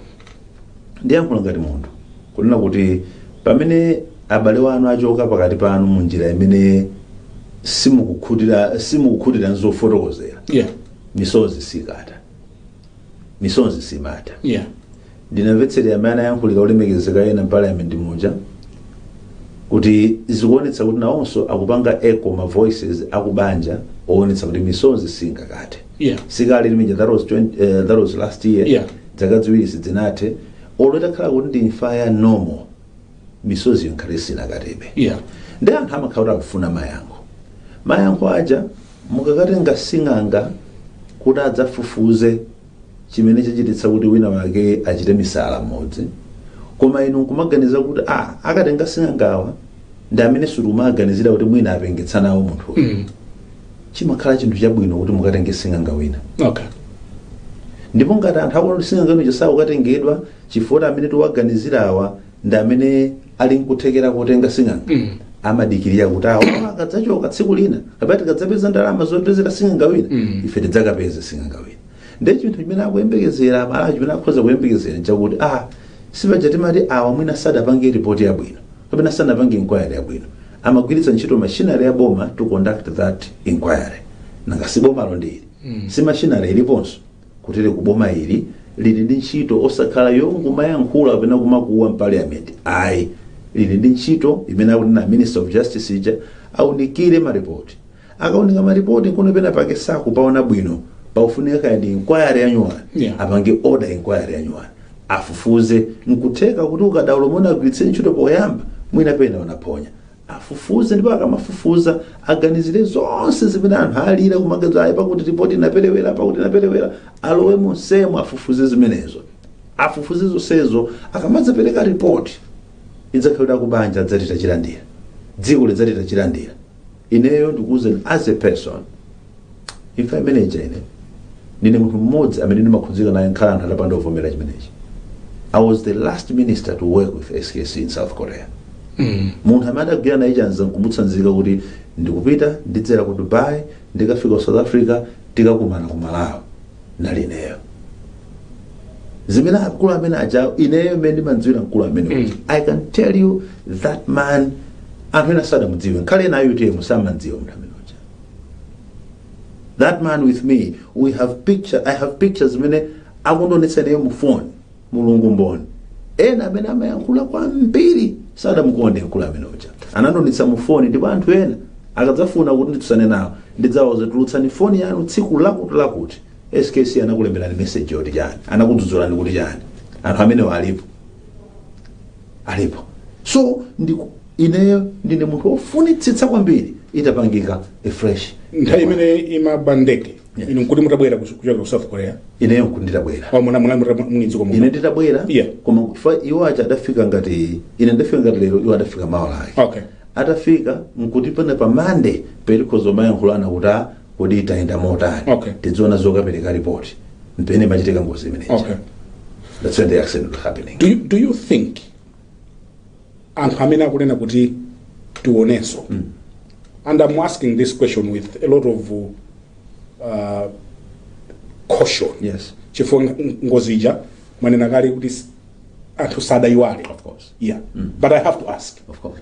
ndiyankhula ngati munthu kunena kuti pamene abale wanu achoka pakati panu mu njira imene simukukhutira simukukhutira n'zofotokozera Yeah. misozi sikutha misozi simatha yeah ndinamvetserera mmene anayankhulira olemekezeka ena m'parliament muja kuti zikuonetsa kuti nawonso akupanga echo ma voices akubanja oonetsa kuti misozi singathe yeah sikale lomweja that was, 20, uh, that was last year Yeah. dzaka ziwiri sidzinathe olo itakhala kuti ndi imfa ya normal misozi imakhala sinathebe Yeah. ndi anthu amakhala kuti akufuna mayankho mayankho aja mukakatenga sing'anga kuti adzafufuze chimene chachititsa kuti wina wake achite misala mmudzi koma inu nkumaganiza kuti a akatenga sing'angawa ndi amene timaganizira kuti mwina apengitsa nawo munthu Mm. chimakhala chinthu chabwino kuti mukatenge sing'anga wina Okay. ndipo ngati anthu akuti sing'anga wina akatengedwa chifukwa amene tiwaganizira awa ndi amene ali nkuthekera kotenga sing'anga amadikirira kuti awa akadzachoka tsiku lina kapena tikadzapeza ndalama zopezera sing'anga wina ife tidzakapeze sing'anga wina ndi chinthu chimene akuyembekezera amalawi chimene akhoza kuyembekezera nchakuti a si paja timati awa mwina sadapange ripoti yabwino kapena sanapange inquiry yabwino amagwiritsa ntchito machinery ya boma to conduct that inquiry nanga si bomalo ndi ili si machinery iliponso Kutereku boma ili lili ndi ntchito osakhala yomangoyankhula kapena kumakuwa m'parliament ayi lili ndi ntchito imene akunena a minister of justice ija aunikire ma report akaunika ma report nkuona pena pake sakupaona bwino pakufunika kaya ndi inquiry yanyuwani Yeah. apange order inquiry yanyuwani afufuze nkutheka kuti ukadaulo umene anagwiritsa ntchito poyamba mwina pena unaphonya Afufuze ndipo akamafufuza aganizire zonse zimene anthu alira kumangoti ayi pakuti ripoti inaperewera pakuti inaperewera alowe monsemu afufuze zimenezo afufuze zonsezo akamadzapereka ripoti idzakhale ya kubanja adzati tachilandira dziko lidzati tachilandira ineyo ndikuuzeni as a person imfa imene ija ine ndine munthu mmodzi amene ndimakhudzika naye nkhale anthu atapanda kuvomera chimenechi i was the last minister to work with skc in south korea munthu amene adagwirana naye chanza nkumutsanzika kuti ndikupita ndidzera ku dubai ndikafika ku south africa tikakumana ku malawi ndali ineyo zimene akulu amene aja ineyo mmene ndimamdziwira mkulu amene uja. i can tell you that man anthu ena sadamudziwe nkhale ena a utm samamdziwa munthu amene that man with me we have picture i have pictures zimene akundionetsa nayo mu phone mulungu mboni ena amene amayankhula kwambiri sadamukonde mkulu amene uja anandionetsa mu phone ndipo anthu ena akadzafuna kuti nditsutsane nawo ndidzawauza tulutsani foni yanu tsiku lakuti lakuti skc anakulemberani message yoti chani anakudzudzulani kuti chani anthu amenewo alipo alipo so ndiku ineyo ndine munthu wofunitsitsa kwambiri itapangika a fresh nthawi imene imagwa ndege Yes. inu nkuti mutabwera kuch- kuchokera ku south korea ineyo nkuti nditabwera Au muna- muna- muna- muli mdziko muno? ine nditabwera Yeah. koma kuti iwo aja adafika ngati ine ndafika ngati lero iwo adafika mawa lake okay atafika nkuti pamene pa mande penipeni timayankhulana kuti a kodi tayenda motani Okay. tidziona zokapereka ripoti mpamene imachitika ngozi imeneyi okay that's when the accident was happening do you, do you think anthu amene akunena kuti tionenso and i'm asking this question with a lot of uh, caution yes chifukwa ng- ngozi ija mwanena kale kuti s- anthu sadayiwale of course yeah but i have to ask of course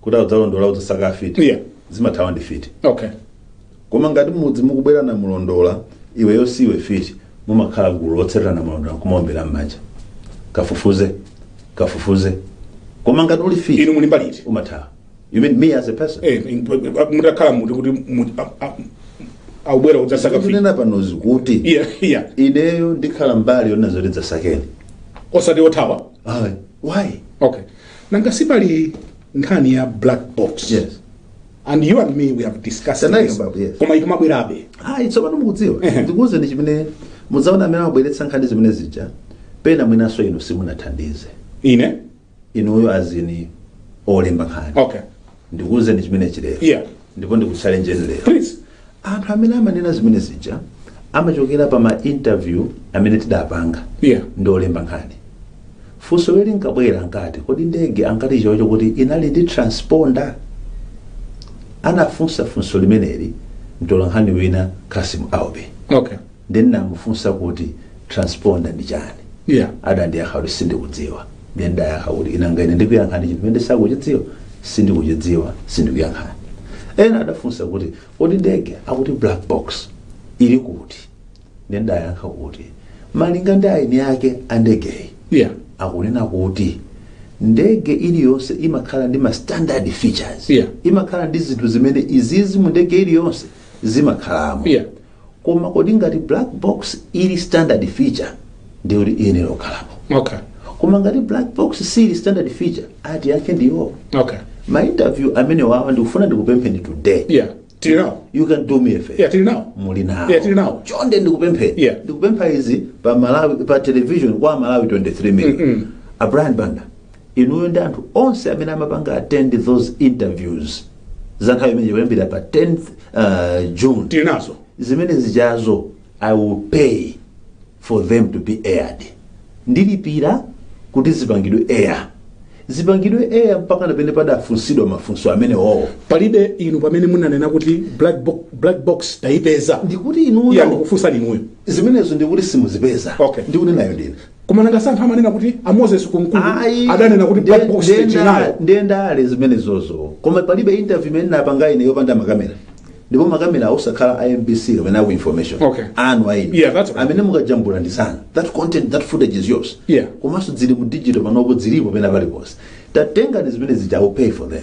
kuti abwera mulondola udzasaka afiti Yeah. zimathawa ndi mfiti okay koma ngati mudzi mukubwera na mlondola iweyo siiwe mfiti mumakhala gulu lotsatira mlondola kumaombera m'manja kafufuze kafufuze koma ngati uli mfiti inu muli mbali iti umathawa you mean me as a person Eh, in- mutakhala muti kuti mu- a- a- aubwera udzasaka mfiti kunena panozi kuti iya iya ineyo ndikhala mbali yonena zoti dzasakeni osati othawa Ayi, why okay nanga sipali nkhani ya black box Yes. and you and me we have discussed this. yes. koma ikumabwerabe ayi tsopano mukudziwa Ehe. ndikuwuzeni chimene mudzaona amene amabweretsa nkhani zimene zija pena mwinanso inu simunathandize ine inuyo anzanu olemba nkhani okay ndikuuzeni chimenechi lero Yeah. ndipo ndikuchalenjeni lero Please. anthu amene amanena zimene zija amachokera pa ma interview amene tidapanga Yeah. ndi olemba nkhani funso lake linkabwera linkati kodi ndege ankati chocho kuti inali ndi transponder anafunsa funso limeneli mtola nkhani wina kasim aube Okay. Ndiye ndinamufunsa kuti Transponder ndi chani? Iya. Adandiyankha kuti sindikudziwa. Ndiye ndidayankha kuti nanga ine ndikuyankhani chinthu chimene sindikuchidziwa? Sindikuchidziwa, sindikuyankhani. Ena adafunsa kuti kodi ndege akuti black box ili kuti? Ndiye ndidayankha kuti malinga ndi eni ake a ndegeyi, Iya. akunena kuti ndege iliyonse imakhala ndi ma standard features. Iya. Imakhala ndi zinthu zimene izizi mu ndege iliyonse zimakhalamo. Iya. koma kodi ngati black box ili standard feature ndiye kuti iyenera kukhalapo okay koma ngati black box sili standard feature eni ake ndiwo okay ma interview amene wawa ndikufuna ndikupempheni today yeah tili nawo you can do me a favor yeah tili nawo muli nawo Yeah, tili nawo. chonde ndikupempheni Yeah. ndikupempha izi pa television kwa malawi 23 million a brian banda inuyo ndi anthu onse amene amapanga attend those interviews za nthawi imene kuyambira pa 10th uh, june tili nazo zimene zijazo i will pay for them to be aired ndilipira kuti zipangidwe air zipangidwe air mpaka muone padafunsidwa mafunso amene owo palibe inu pamene ndinanena kuti black, bo black box tayipeza ndikuti inuyo iya ndikufunsani inuyo zimenezo ndikuti simuzipeza Okay. ndikuti nayo ndine koma nanga si anthu amanena kuti a moses kunkuyu Ayi, adanena kuti black box ndiye ndale zimene zozo koma palibe interview imene napanga ine yopanda makamera ndipo makamera osakhala a mbc kapena aku information Okay. anu eni Yeah, that's right. amene mukajambula ndi zanu that content that footage is yours Yeah. komanso zili mu digital panopo zilipo pena paliponse tatengani zimene zija I will pay for them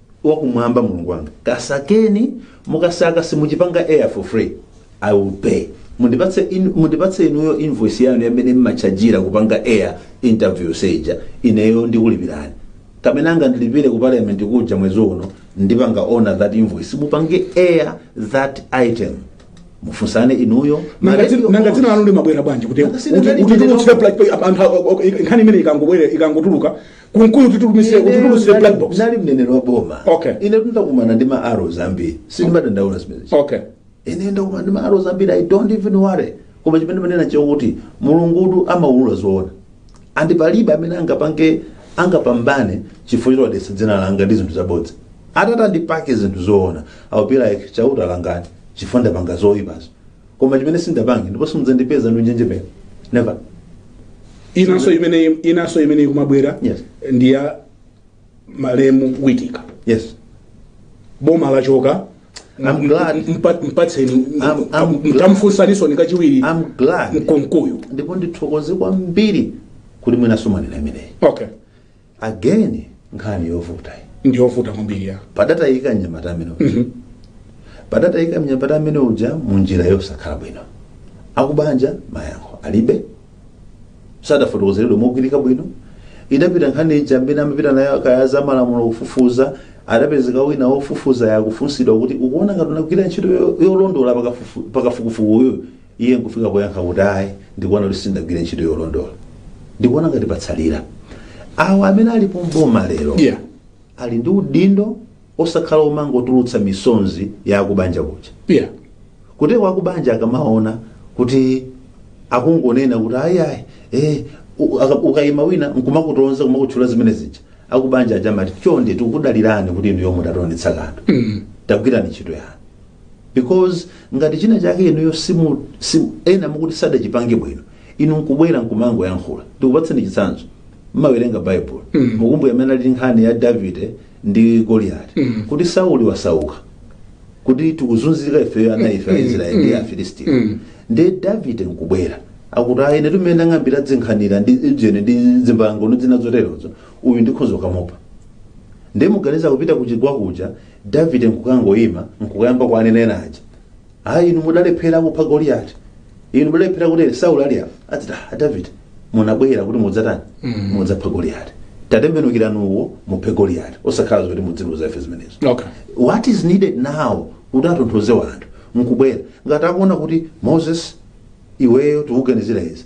wakumwamba mulungu wanga kasakeni mukasaka simukachipanga air for free i will pay mundipatse in, mundipatse inuyo invoice yanu yamene mmachajira kupanga air interview ija ineyo ndikulipirani kamene angandilipire ku parliament kuja mwezi uno ndipanga honor that invoice mupange air that item mufunsane inuyo ma Nanga radio dzina- nanga dzina hosts. lanu limabwera bwanji kuti Nanga sina kuti- nali kuti ndine timutsira nokha. pla- anthu a- a- a- nkhani imene ikangobwera ikangotuluka kunkulu titulumise utulumise black box nali mneneri wa boma Okay. ine tindakumana ndi ma arrows ambiri sindimadandaula zimenezo okay ine ndakumana ndi ma arrows ambiri i don't even worry koma chimene ndimanena nchakuti mulungutu amaulula zoona and palibe amene angapange angapambane chifukwa chodetsa dzina langa ndi zinthu zabodza atati ndipange zinthu zoona i'll be like chauta ndilangeni chifukwa ndapanga zoyipazo koma chimene sindapange ndipo simudzandipeza ndikunjenjemera never inanso imene inanso imene ikumabwera Yes. ndi ya malemu witika yes boma lachoka I'm glad. Mpa- mpatseni I'm- I'm glad. ndamufunsanso ndi kachiwiri i'm glad mkonkuyu ndipo ndithokoze kwambiri kuti mwinanso mwanena imeneyi okay again nkhani yovuta iyi. ndiyovuta kwambiri ya padatayika mnyamata amene uja padatayika mnyamata amene uja mu njira yosakhala bwino akubanja mayankho alibe sadafotokozeredwe mogwirika bwino idapita nkhani ija amene amapita nayo akaya a za malamulo kufufuza adapezeka wina wofufuza akufunsidwa kuti ukuona ngati unagwira ntchito yo- yolondola pakafufu- pakafukufukuyu Iye nkufika poyankha kuti, Ayi, ndikuona kuti sindinagwire ntchito yolondola. Ndikuona ngati patsalira. Awo amene alipo m'boma lero Yeah. ali ndi udindo osakhala omangotulutsa misonzi ya akubanja kuja. Yeah. kuti wakubanja akamaona kuti akungonena kuti ayayi eh, u- aka- ukayima wina nkumakutonza kumakutchula zimene zija akubanja aja amati chonde tikudalirani kuti inuyo mutionetsa kanthu tagwirani ntchito yanu because ngati china chake inuyo simu, simu ena mukuti sadachipange bwino inu nkubwera nkumangoyankhula ndikupatseni chitsanzo mmawerenga baibulo mm. mukumbuka mmene ilili nkhani ya davide ndi goliyati mm. kuti sauli wasauka kuti tikuzunzika ifeyo ana ife a israeli ndi afilistiyo mm. ndi davide nkubwera nkuti ayi ine ndi amene ndang'ambira dzinkhanira ndi ine ndi dzimbango ndi dzina zoterozo uyu ndikhoza kukamupha ndiye muganiza kupita kuchigwa kuja Davide nkukangoima nkukayamba kuwanena ena aja, ayi inu mudalephera kupha Goliati, inu mudalephera kutere Sauli ali apa, adzati "Ah, a Davide munabwera kuti mudzatani, mudzapha Goliati, tatembenukirani uwo muphe Goliati, osakhala zoti mudzitiuza ife zimenezo. Okay. What is needed now kuti atonthoze wanthu nkubwera ngati akuona kuti Moses iweyo tikuganizira izi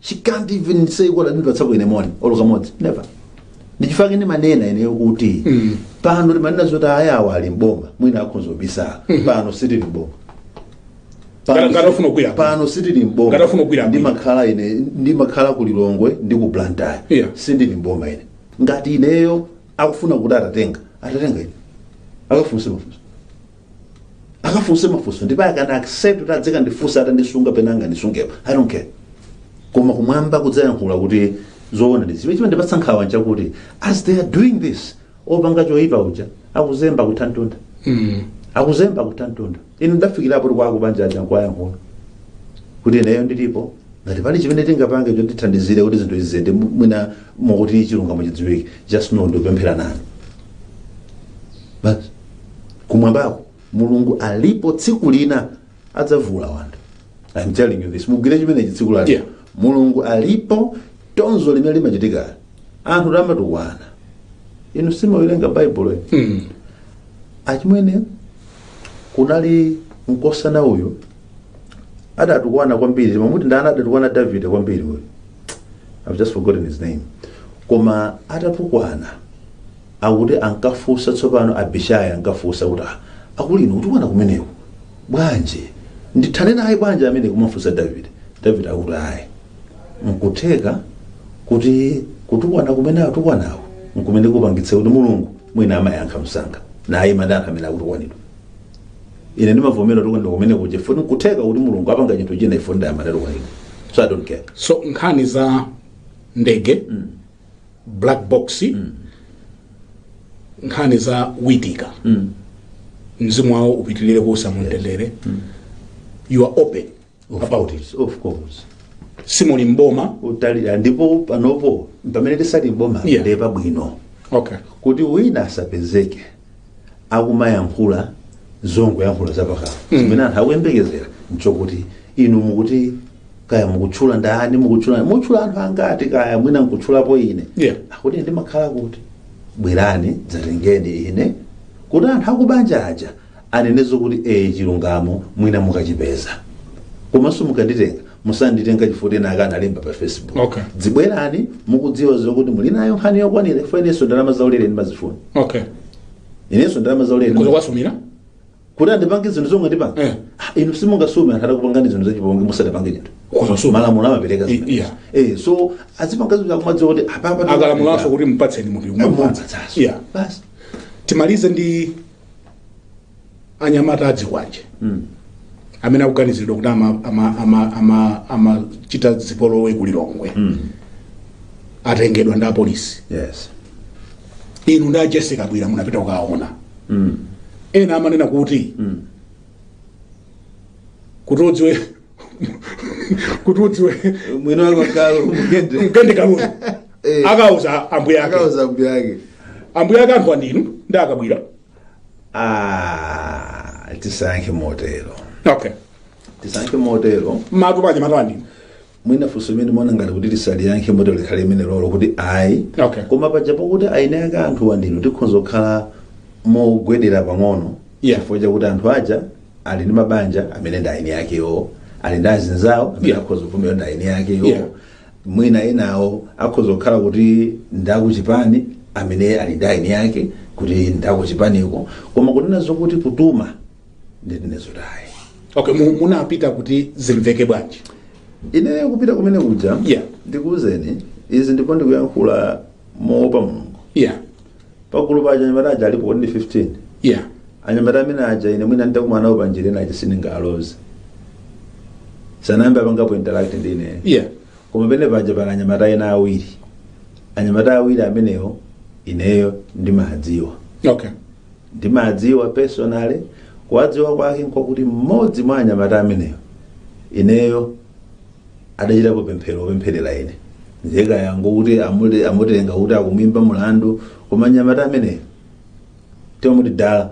she can't even say kuti andipatsako ine moni olo kamodzi never nchifukwa chake ndimanena ineyo kuti Mm. pano ndimanena zoti ayawa ali mboma mwina akhonza kubisala pano sitili mboma Pano Ngati- ngati si- afuna kugwira. pano sitili mboma Ngati afuna kugwira. ndimakhala ine ndimakhala ku lilongwe ndi ku blantyre Yeah. sindili mboma ine ngati ineyo akufuna kuti atatenga atatenga ine akafunse mafunso akafunse mafunso ndipo sindikukana except kuti adzikandifunsa atandisunga pena angandisungepo i don't care koma kumwamba kudzayankhula kuti zoona ndi zimene chimandipatsa nkhawa nchakuti as they are doing this opanga choyipa uja akuzemba kutchautchau Mm. akuzemba kuthantontha inu ndafikirapo kuti kwako banja aja nkuwayankhula kuti ineyo ndilipo ngati pali chimene tingapange chotithandizire kuti zinthu zizende mu- mwina mokuti chilungamo chidziwike just know ndikupemphera nanu basi kumwambako mulungu alipo tsiku lina adzaulula anthu I'm telling you this mugwire chimenechi tsiku lake Yeah. mulungu alipo tonzo limene limachitika anthu timatukwana inu simawerenga baibulo inu Mm. achimwene kunali mkosana uyu adatukwana kwambiri timamuti ndani adatukwana davide kwambiri uyu i've just forgotten his name koma atatukwana Akuti ankafunsa tsopano Abishai ankafunsa kuti ah akulu inu kutukwana kumeneku bwanji ndithane naye bwanji amenewo kumafunsa Davide Davide akuti ayi nkutheka kuti kutukwana kumene atukwanako nkumene kupangitse kuti Mulungu mwina andiyankhe msanga ndiye mmene anthu amene akutukwanidwa ine ndimavomera kutukwanidwa kumene kuja futi nkutheka kuti Mulungu apange chinthu china ifuti amene tukwanidwa so I don't care so nkhani za ndege black box mm. nkhani za witika mm. mzimu wawo upitilire kuusa mumtendere mm. you are open about it of course, of course. simuli mboma totally ndipo panopo pamene sitili mboma Yeah. ndiye pabwino okay kuti wina asapezeke akumayankhula zongoyankhula zapakamwa chimene anthu akuyembekezera nchokuti inu mukuti kaya mukutchula ndani mukutchula mukutchula anthu angati kaya mwina nkutchulapo ine Yeah. akuti ine ndimakhala kuti bwerani dzatengeni ine kuti anthu akubanja aja anenezo kuti ee chilungamo mwina mukachipeza komanso mukanditenga musanditenga chifukwa ena ake analemba pa facebook Okay. dzibwerani mukudziwa zokuti muli nayo nkhani yokwanira chifukwa inenso ndalama zaulere ndimazifuna okay inenso ndalama zaulere kudzawasumira kuti andipanga zinthu zomwe sindinapange Eh. Ah, inu simungasume anthu atakupangani zinthu zachipongwe musadapange chinthu kudzasuma malamulo amapereka I- zimene. yeah. eh so azipanga zinthu akumadziwa kuti apapa akalamulanso kuti mupatseni munthu kumamupatsa yeah basi timalize ndi anyamata azikwanje Mm. amene akuganiziridwa kuti amachita ama, ama, ama, ama chita zipolowe ku lilongwe Mm. atengedwa ndi apolisi Yes. inu ndi Jessie Kabwila munapita kukaona Mm. ena amanena kuti Mm. kuti udziwe kuti udziwe Mwino wako kalo mugende. mgende kalulu Eh. akauza ambuye ake Akauza mbuyake. ambuye ake ake ndinu ndi a Kabwila Ah, tisankhe motero okay tisankhe motero matu paja matani mwina funso imene ndimaona ngati kuti tisaliyankhe motero likhale limenelolo kuti ayi Okay. koma paja pokuti eni ake anthu ndinu tikhonza kukhala mogwedera pang'ono Yeah. chifukwa chakuti anthu aja ali ndi mabanja amene ndi eni akewo ali ndi azinzawo amene Yeah. akhoza kuvomera ndi eni akewo Yeah. mwina enawo akhoza kukhala kuti ndi akuchipani amene ali ndi eni ake kuti ndi akuchipaniko koma kunena zokuti kutuma ndinene zoti ayi okay mu- munapita kuti zimveke bwanji ineyo kupita kumene kuja Yeah. ndikuwuzeni izi ndipo ndikuyankhula moopa mulungu yeah pagulu pa anyamata aja alipo 15 yeah anyamata amene aja ine mwina nditakumana nawo panjira ina aja sindingaloze sanayambe apangapo interact ndi ineyo yeah koma pamene paja pali anyamata ena awiri anyamata awiri amenewo ineyo ndimawadziwa okay ndimawadziwa personally kuwadziwa kwake nkwakuti mmodzi mwa anyamata amenewo ineyo adachitapo pemphero lopempherera ine ndiye kaya ngokuti amule- amutenga kuti akumwimba mulandu koma mnyamata ameneyo timamuti dala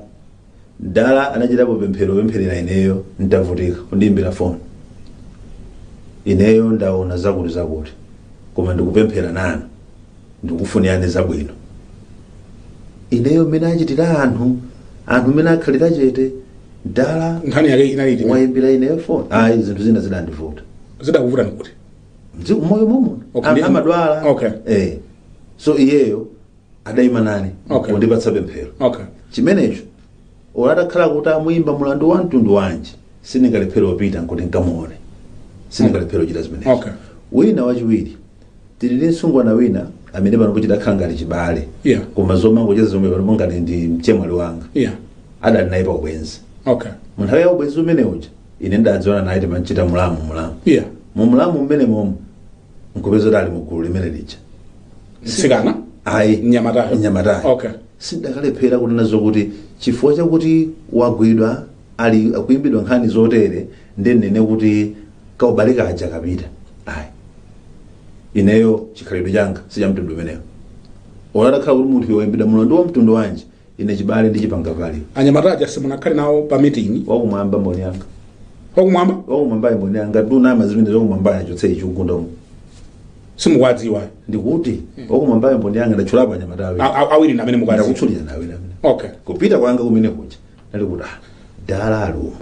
dala anachitapo pemphero lopempherera ineyo ntavutika kundiyimbira foni ineyo ndaona zakuti zakuti koma ndikupemphera nanu ndikufunirani zabwino ineyo mmene achitira anthu anthu mmene akhalira chete dala nkhani yake inali iti mwayimbira ineyo foni ayi zinthu zina zidandivuta zidakuvutani kuti Mzi- moyo momuno Okay, anthu ndi- ndimadwala okay. eh. so iyeyo adayima nane Okay. kundipatsa pemphero okay chimenecho Olo atakhala kuti amuimba mlandu wa mtundu wanji, sindingalephere kupita nkuti nkamuone. Sindingalephere kuchita zimenezo. Okay. Wina wachiwiri, tili ndi msungwana wina amene panopo chidakhala ngati chibale. Yeah. Koma zomangocheza zomwe panopo ngati ndi mchemwali wanga. Yeah. Adali naye pa ubwenzi. Okay. Mu nthawi ya ubwenzi umene uja, ine ndidadziwana naye timangochita mulamu mulamu. Yeah. Mu mulamu mmene momo nkupeza kuti ali mu gulu limene lija mtsikana ayi mnyamatayo mnyamatayo okay sindikanalephera kunena zokuti chifukwa chakuti wagwidwa ali akuimbidwa nkhani zotere ndinene kuti kaubale kaja kapita ayi ineyo chikhalidwe changa sichamtundu umenewo olo atakhala kuti munthu woimbidwa mulandu wa mtundu wanji ine chibale ndi ChiPangapale anyamata aja simunakhale nawo pa meeting wakumwamba mboni yanga wakumwamba wakumwambayo mboni yanga ndikunama zimene zakumwambayo achotse chikugunda umu simukuwadziwa ndikuti wakumwambayo mboni yanga ndatchulapo anyamata awiri A- a- awiri ndi amene mukuwadziwa ndakutchulira nawenso amene okay kupita kwanga kumene kuja nali kuti ah, dala alumu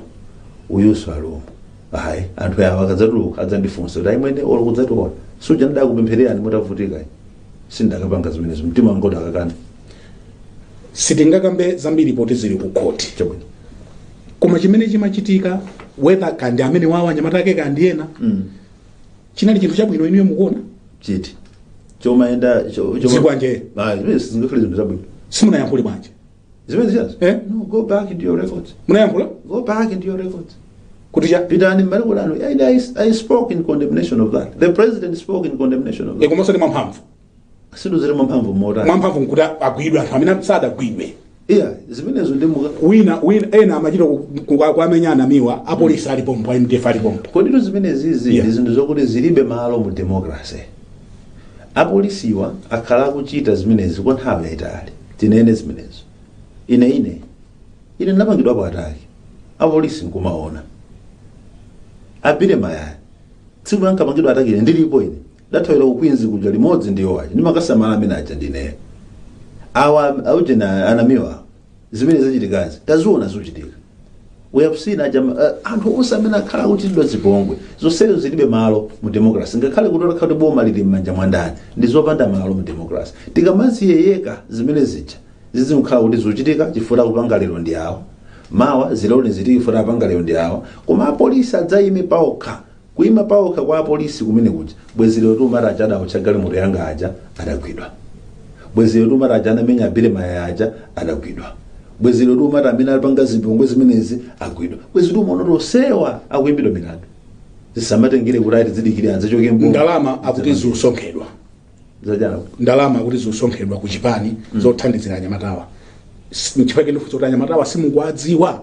uyuso alumu ayi anthu awa akadzatuluka adzandifunsa kuti ayimwene olo kudzati olosuja ndidakupemphererani mutavutika sindakapanga zimenezo mtima wanga udakakana sitingakambe zambiri poti zili ku khoti chabwino koma chimene chimachitika whether kaya ndi amenewawa anyamata ake kaya ndi ena chinali chinthu chabwino inuyo mukuona choti chomayenda cho- choma- Zikwanje. Ah, zimene sizingakhale zinthu zabwino simunayankhule bwanji zimene zijazo Eh? no go back into your records munayankhula go back into your records kuti cha pitani mmene kulano I, I, i spoke in condemnation of that the president spoke in condemnation of that komanso ndi mwamphamvu sindidziwa mwamphamvu motani mwamphamvu nkuti agwidwe anthu amene sadagwidwe iya zimenezo ndipo wina wina ena amachita ku- ku- kuamenya anamiwa apolisi ali pompo a mdf ali pompo koditu zimenezizi Yeah. ndi zinthu zokuti zilibe malo mu democracy apolisiwa akhala akuchita zimenezi kwa nthawi yayitali tinene zimenezo ine ine ine ndinapangidwapo ataki apolisi nkumaona a Billy Mayaya tsiku ankapangidwa ataki ine ndilipo ine Ndathawira ku Queens kuja limodzi ndi iwo aja. Ndimakasamala amene aja ndineyo. Awa auje na anamiwa zimene zachitikazi taziona zikuchitika. We have seen aja uh, anthu onse amene akhala akuchitidwa zipongwe zonsezo zilibe malo mu democracy ngakhale kutaya kuti boma lili m'manja mwa ndani ndi zopanda malo mu democracy tikamazilekerera zimene zija zizikhala kuti zikuchitika chifukwa kupanga lero ndi awo mawa zilole zichitike chifukwa apanga lero ndi awo koma apolisi adzayime paokha Kuima paokha kwa apolisi kumene kuja. Bwezi lero tikumati aja adaotcha galimoto yanga aja adagwidwa. Bwezi lero tikumati aja anamenya Billy Mayaya aja adagwidwa. Bwezi lero tikumati amene akupanga zipongwe zimenezi agwidwa. Bwezi tikumaona kuti onsewa akuimbidwa milandu. Zisamatengere kuti ayi tidzidikire adzachoke mboma. ndalama akuti zikusonkhedwa Zachana. ndalama akuti zikusonkhedwa ku chipani zothandizira anyamatawa S- nchifukwa chake ndikufunsa kuti anyamatawa simukuwadziwa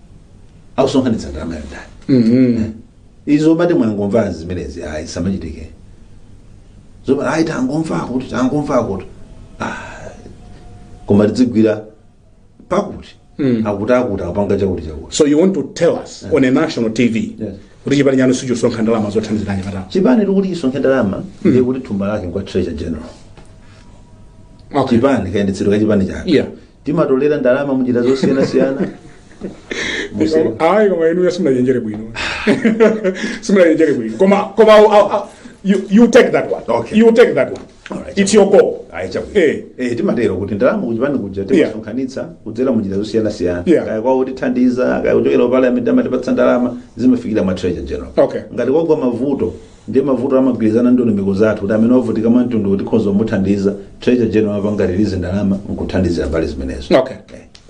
akusonkhanitsa ndalama ya ndani Mhm. izo mumati mwangomva zimenezi ayi sizimachitika zomwe ayi tangomva kuti tangomva kuti Ah, koma tidzigwirira pakuti Mm. akuti akuti akupanga chakuti chakuti so you want to tell us on a national tv Yes. kuti chipani chanu sichikusonkha ndalama zothandizira anyamatawo chipani tikuti chisonkhe ndalama ndiye kuti thumba lake nkwa treasurer general okay. chipani kayendetsedwe ka chipani chake yeah timatolera ndalama munjira zosiyanasiyana Muse- ayi koma inuyo simunachenjere bwino simunachenjere bwino koma koma I'll- I'll- I'll- you, you take that one Okay. you take that one Alright. it's your call Ayi, chabwino. Eh. Eh, timatero kuti ndalama kuchipani kuja timasonkhanitsa kudzera munjira zosiyanasiyana Yeah. kaya kwa otithandiza kaya kuchokera ku parliament amatipatsa ndalama zimafikira mwa treasurer general Okay. ngati kwagwa mavuto Ndiye mavutowa timagwirizana ndondomeko zathu kuti amene wavutika mwamtunduwu tikhonza kumuthandiza, Treasurer General amapanga release ndalama nkuthandizira mbali zimenezo. Okay.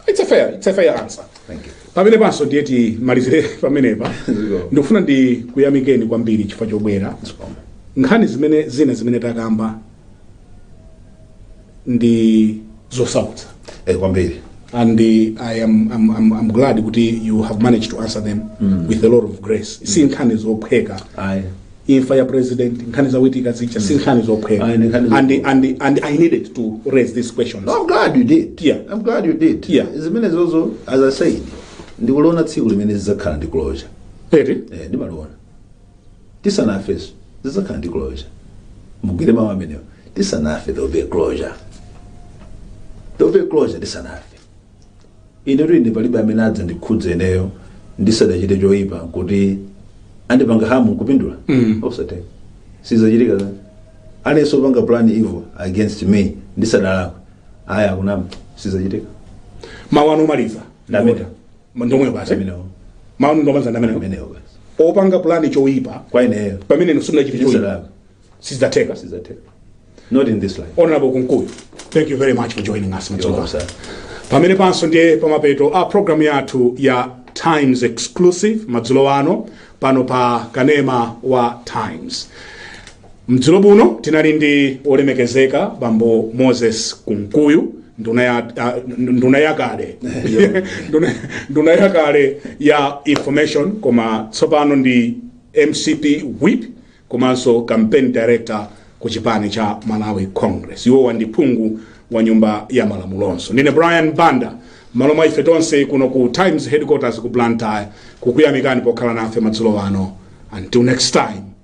It's a fair, it's a fair answer. Thank you. Pamenepanso ndiye timalizire pamenepa. Ndikufuna ndikuyamikeni kwambiri chifukwa chobwera. Nkhani zimene zina zimene takamba ndi zosautsa eh, kwambiri and uh, I am I'm, I'm, I'm glad kuti you have managed to answer them mm. with a lot of grace mm. si nkhani zophweka ayi imfa ya president nkhani za Witika zija si nkhani zophweka Ayi, ndi nkhani and, and, and i needed to raise these questions No, I'm glad you did. Yeah. I'm glad you did. Yeah. Zimenezozo as I said, ndikuliona tsiku limene zidzakhala ndi closure. Eri? Eh, ndimaliona. tisanafenso zidzakhala ndi closure mugwire mawu amenewo tisanafe there will be a closure there will be a closure tisanafe ine kuti ndi palibe amene adzandikhudze ineyo ndisadachite choyipa kuti andipange harm nkupindula Mm. sizatheka sizachitika za aliyense opanga plan evil against me ndisadalakwe aya akunama sizachitika mawu anu omaliza Ndameta. Ndomwe basi amenewo. Mawu omaliza amene. Amenewo basi. Opanga plan yoipa Kwa ineyo. pamene inu simunachita choipa. Sindinalakwe. Sizatheka. Sizatheka. Not in this life. Honorable Kunkuyu, thank you very much for joining us. You're welcome, sir. pamenepanso ndiye pamapeto a programu yathu ya times exclusive madzulo ano pano pa kanema wa times Madzulo ano tinali ndi olemekezeka bambo Moses Kunkuyu nduna ya ah, nduna yakale Nduna- nduna yakale ya information koma tsopano ndi MCP whip komanso campaign director ku chipani cha Malawi Congress iwowa ndi phungu wa nyumba ya malamulonso ndine Brian Banda mmalo mwa ife tonse kuno ku Times headquarters ku Blantyre kukuyamikani pokhala nafe madzulo ano until next time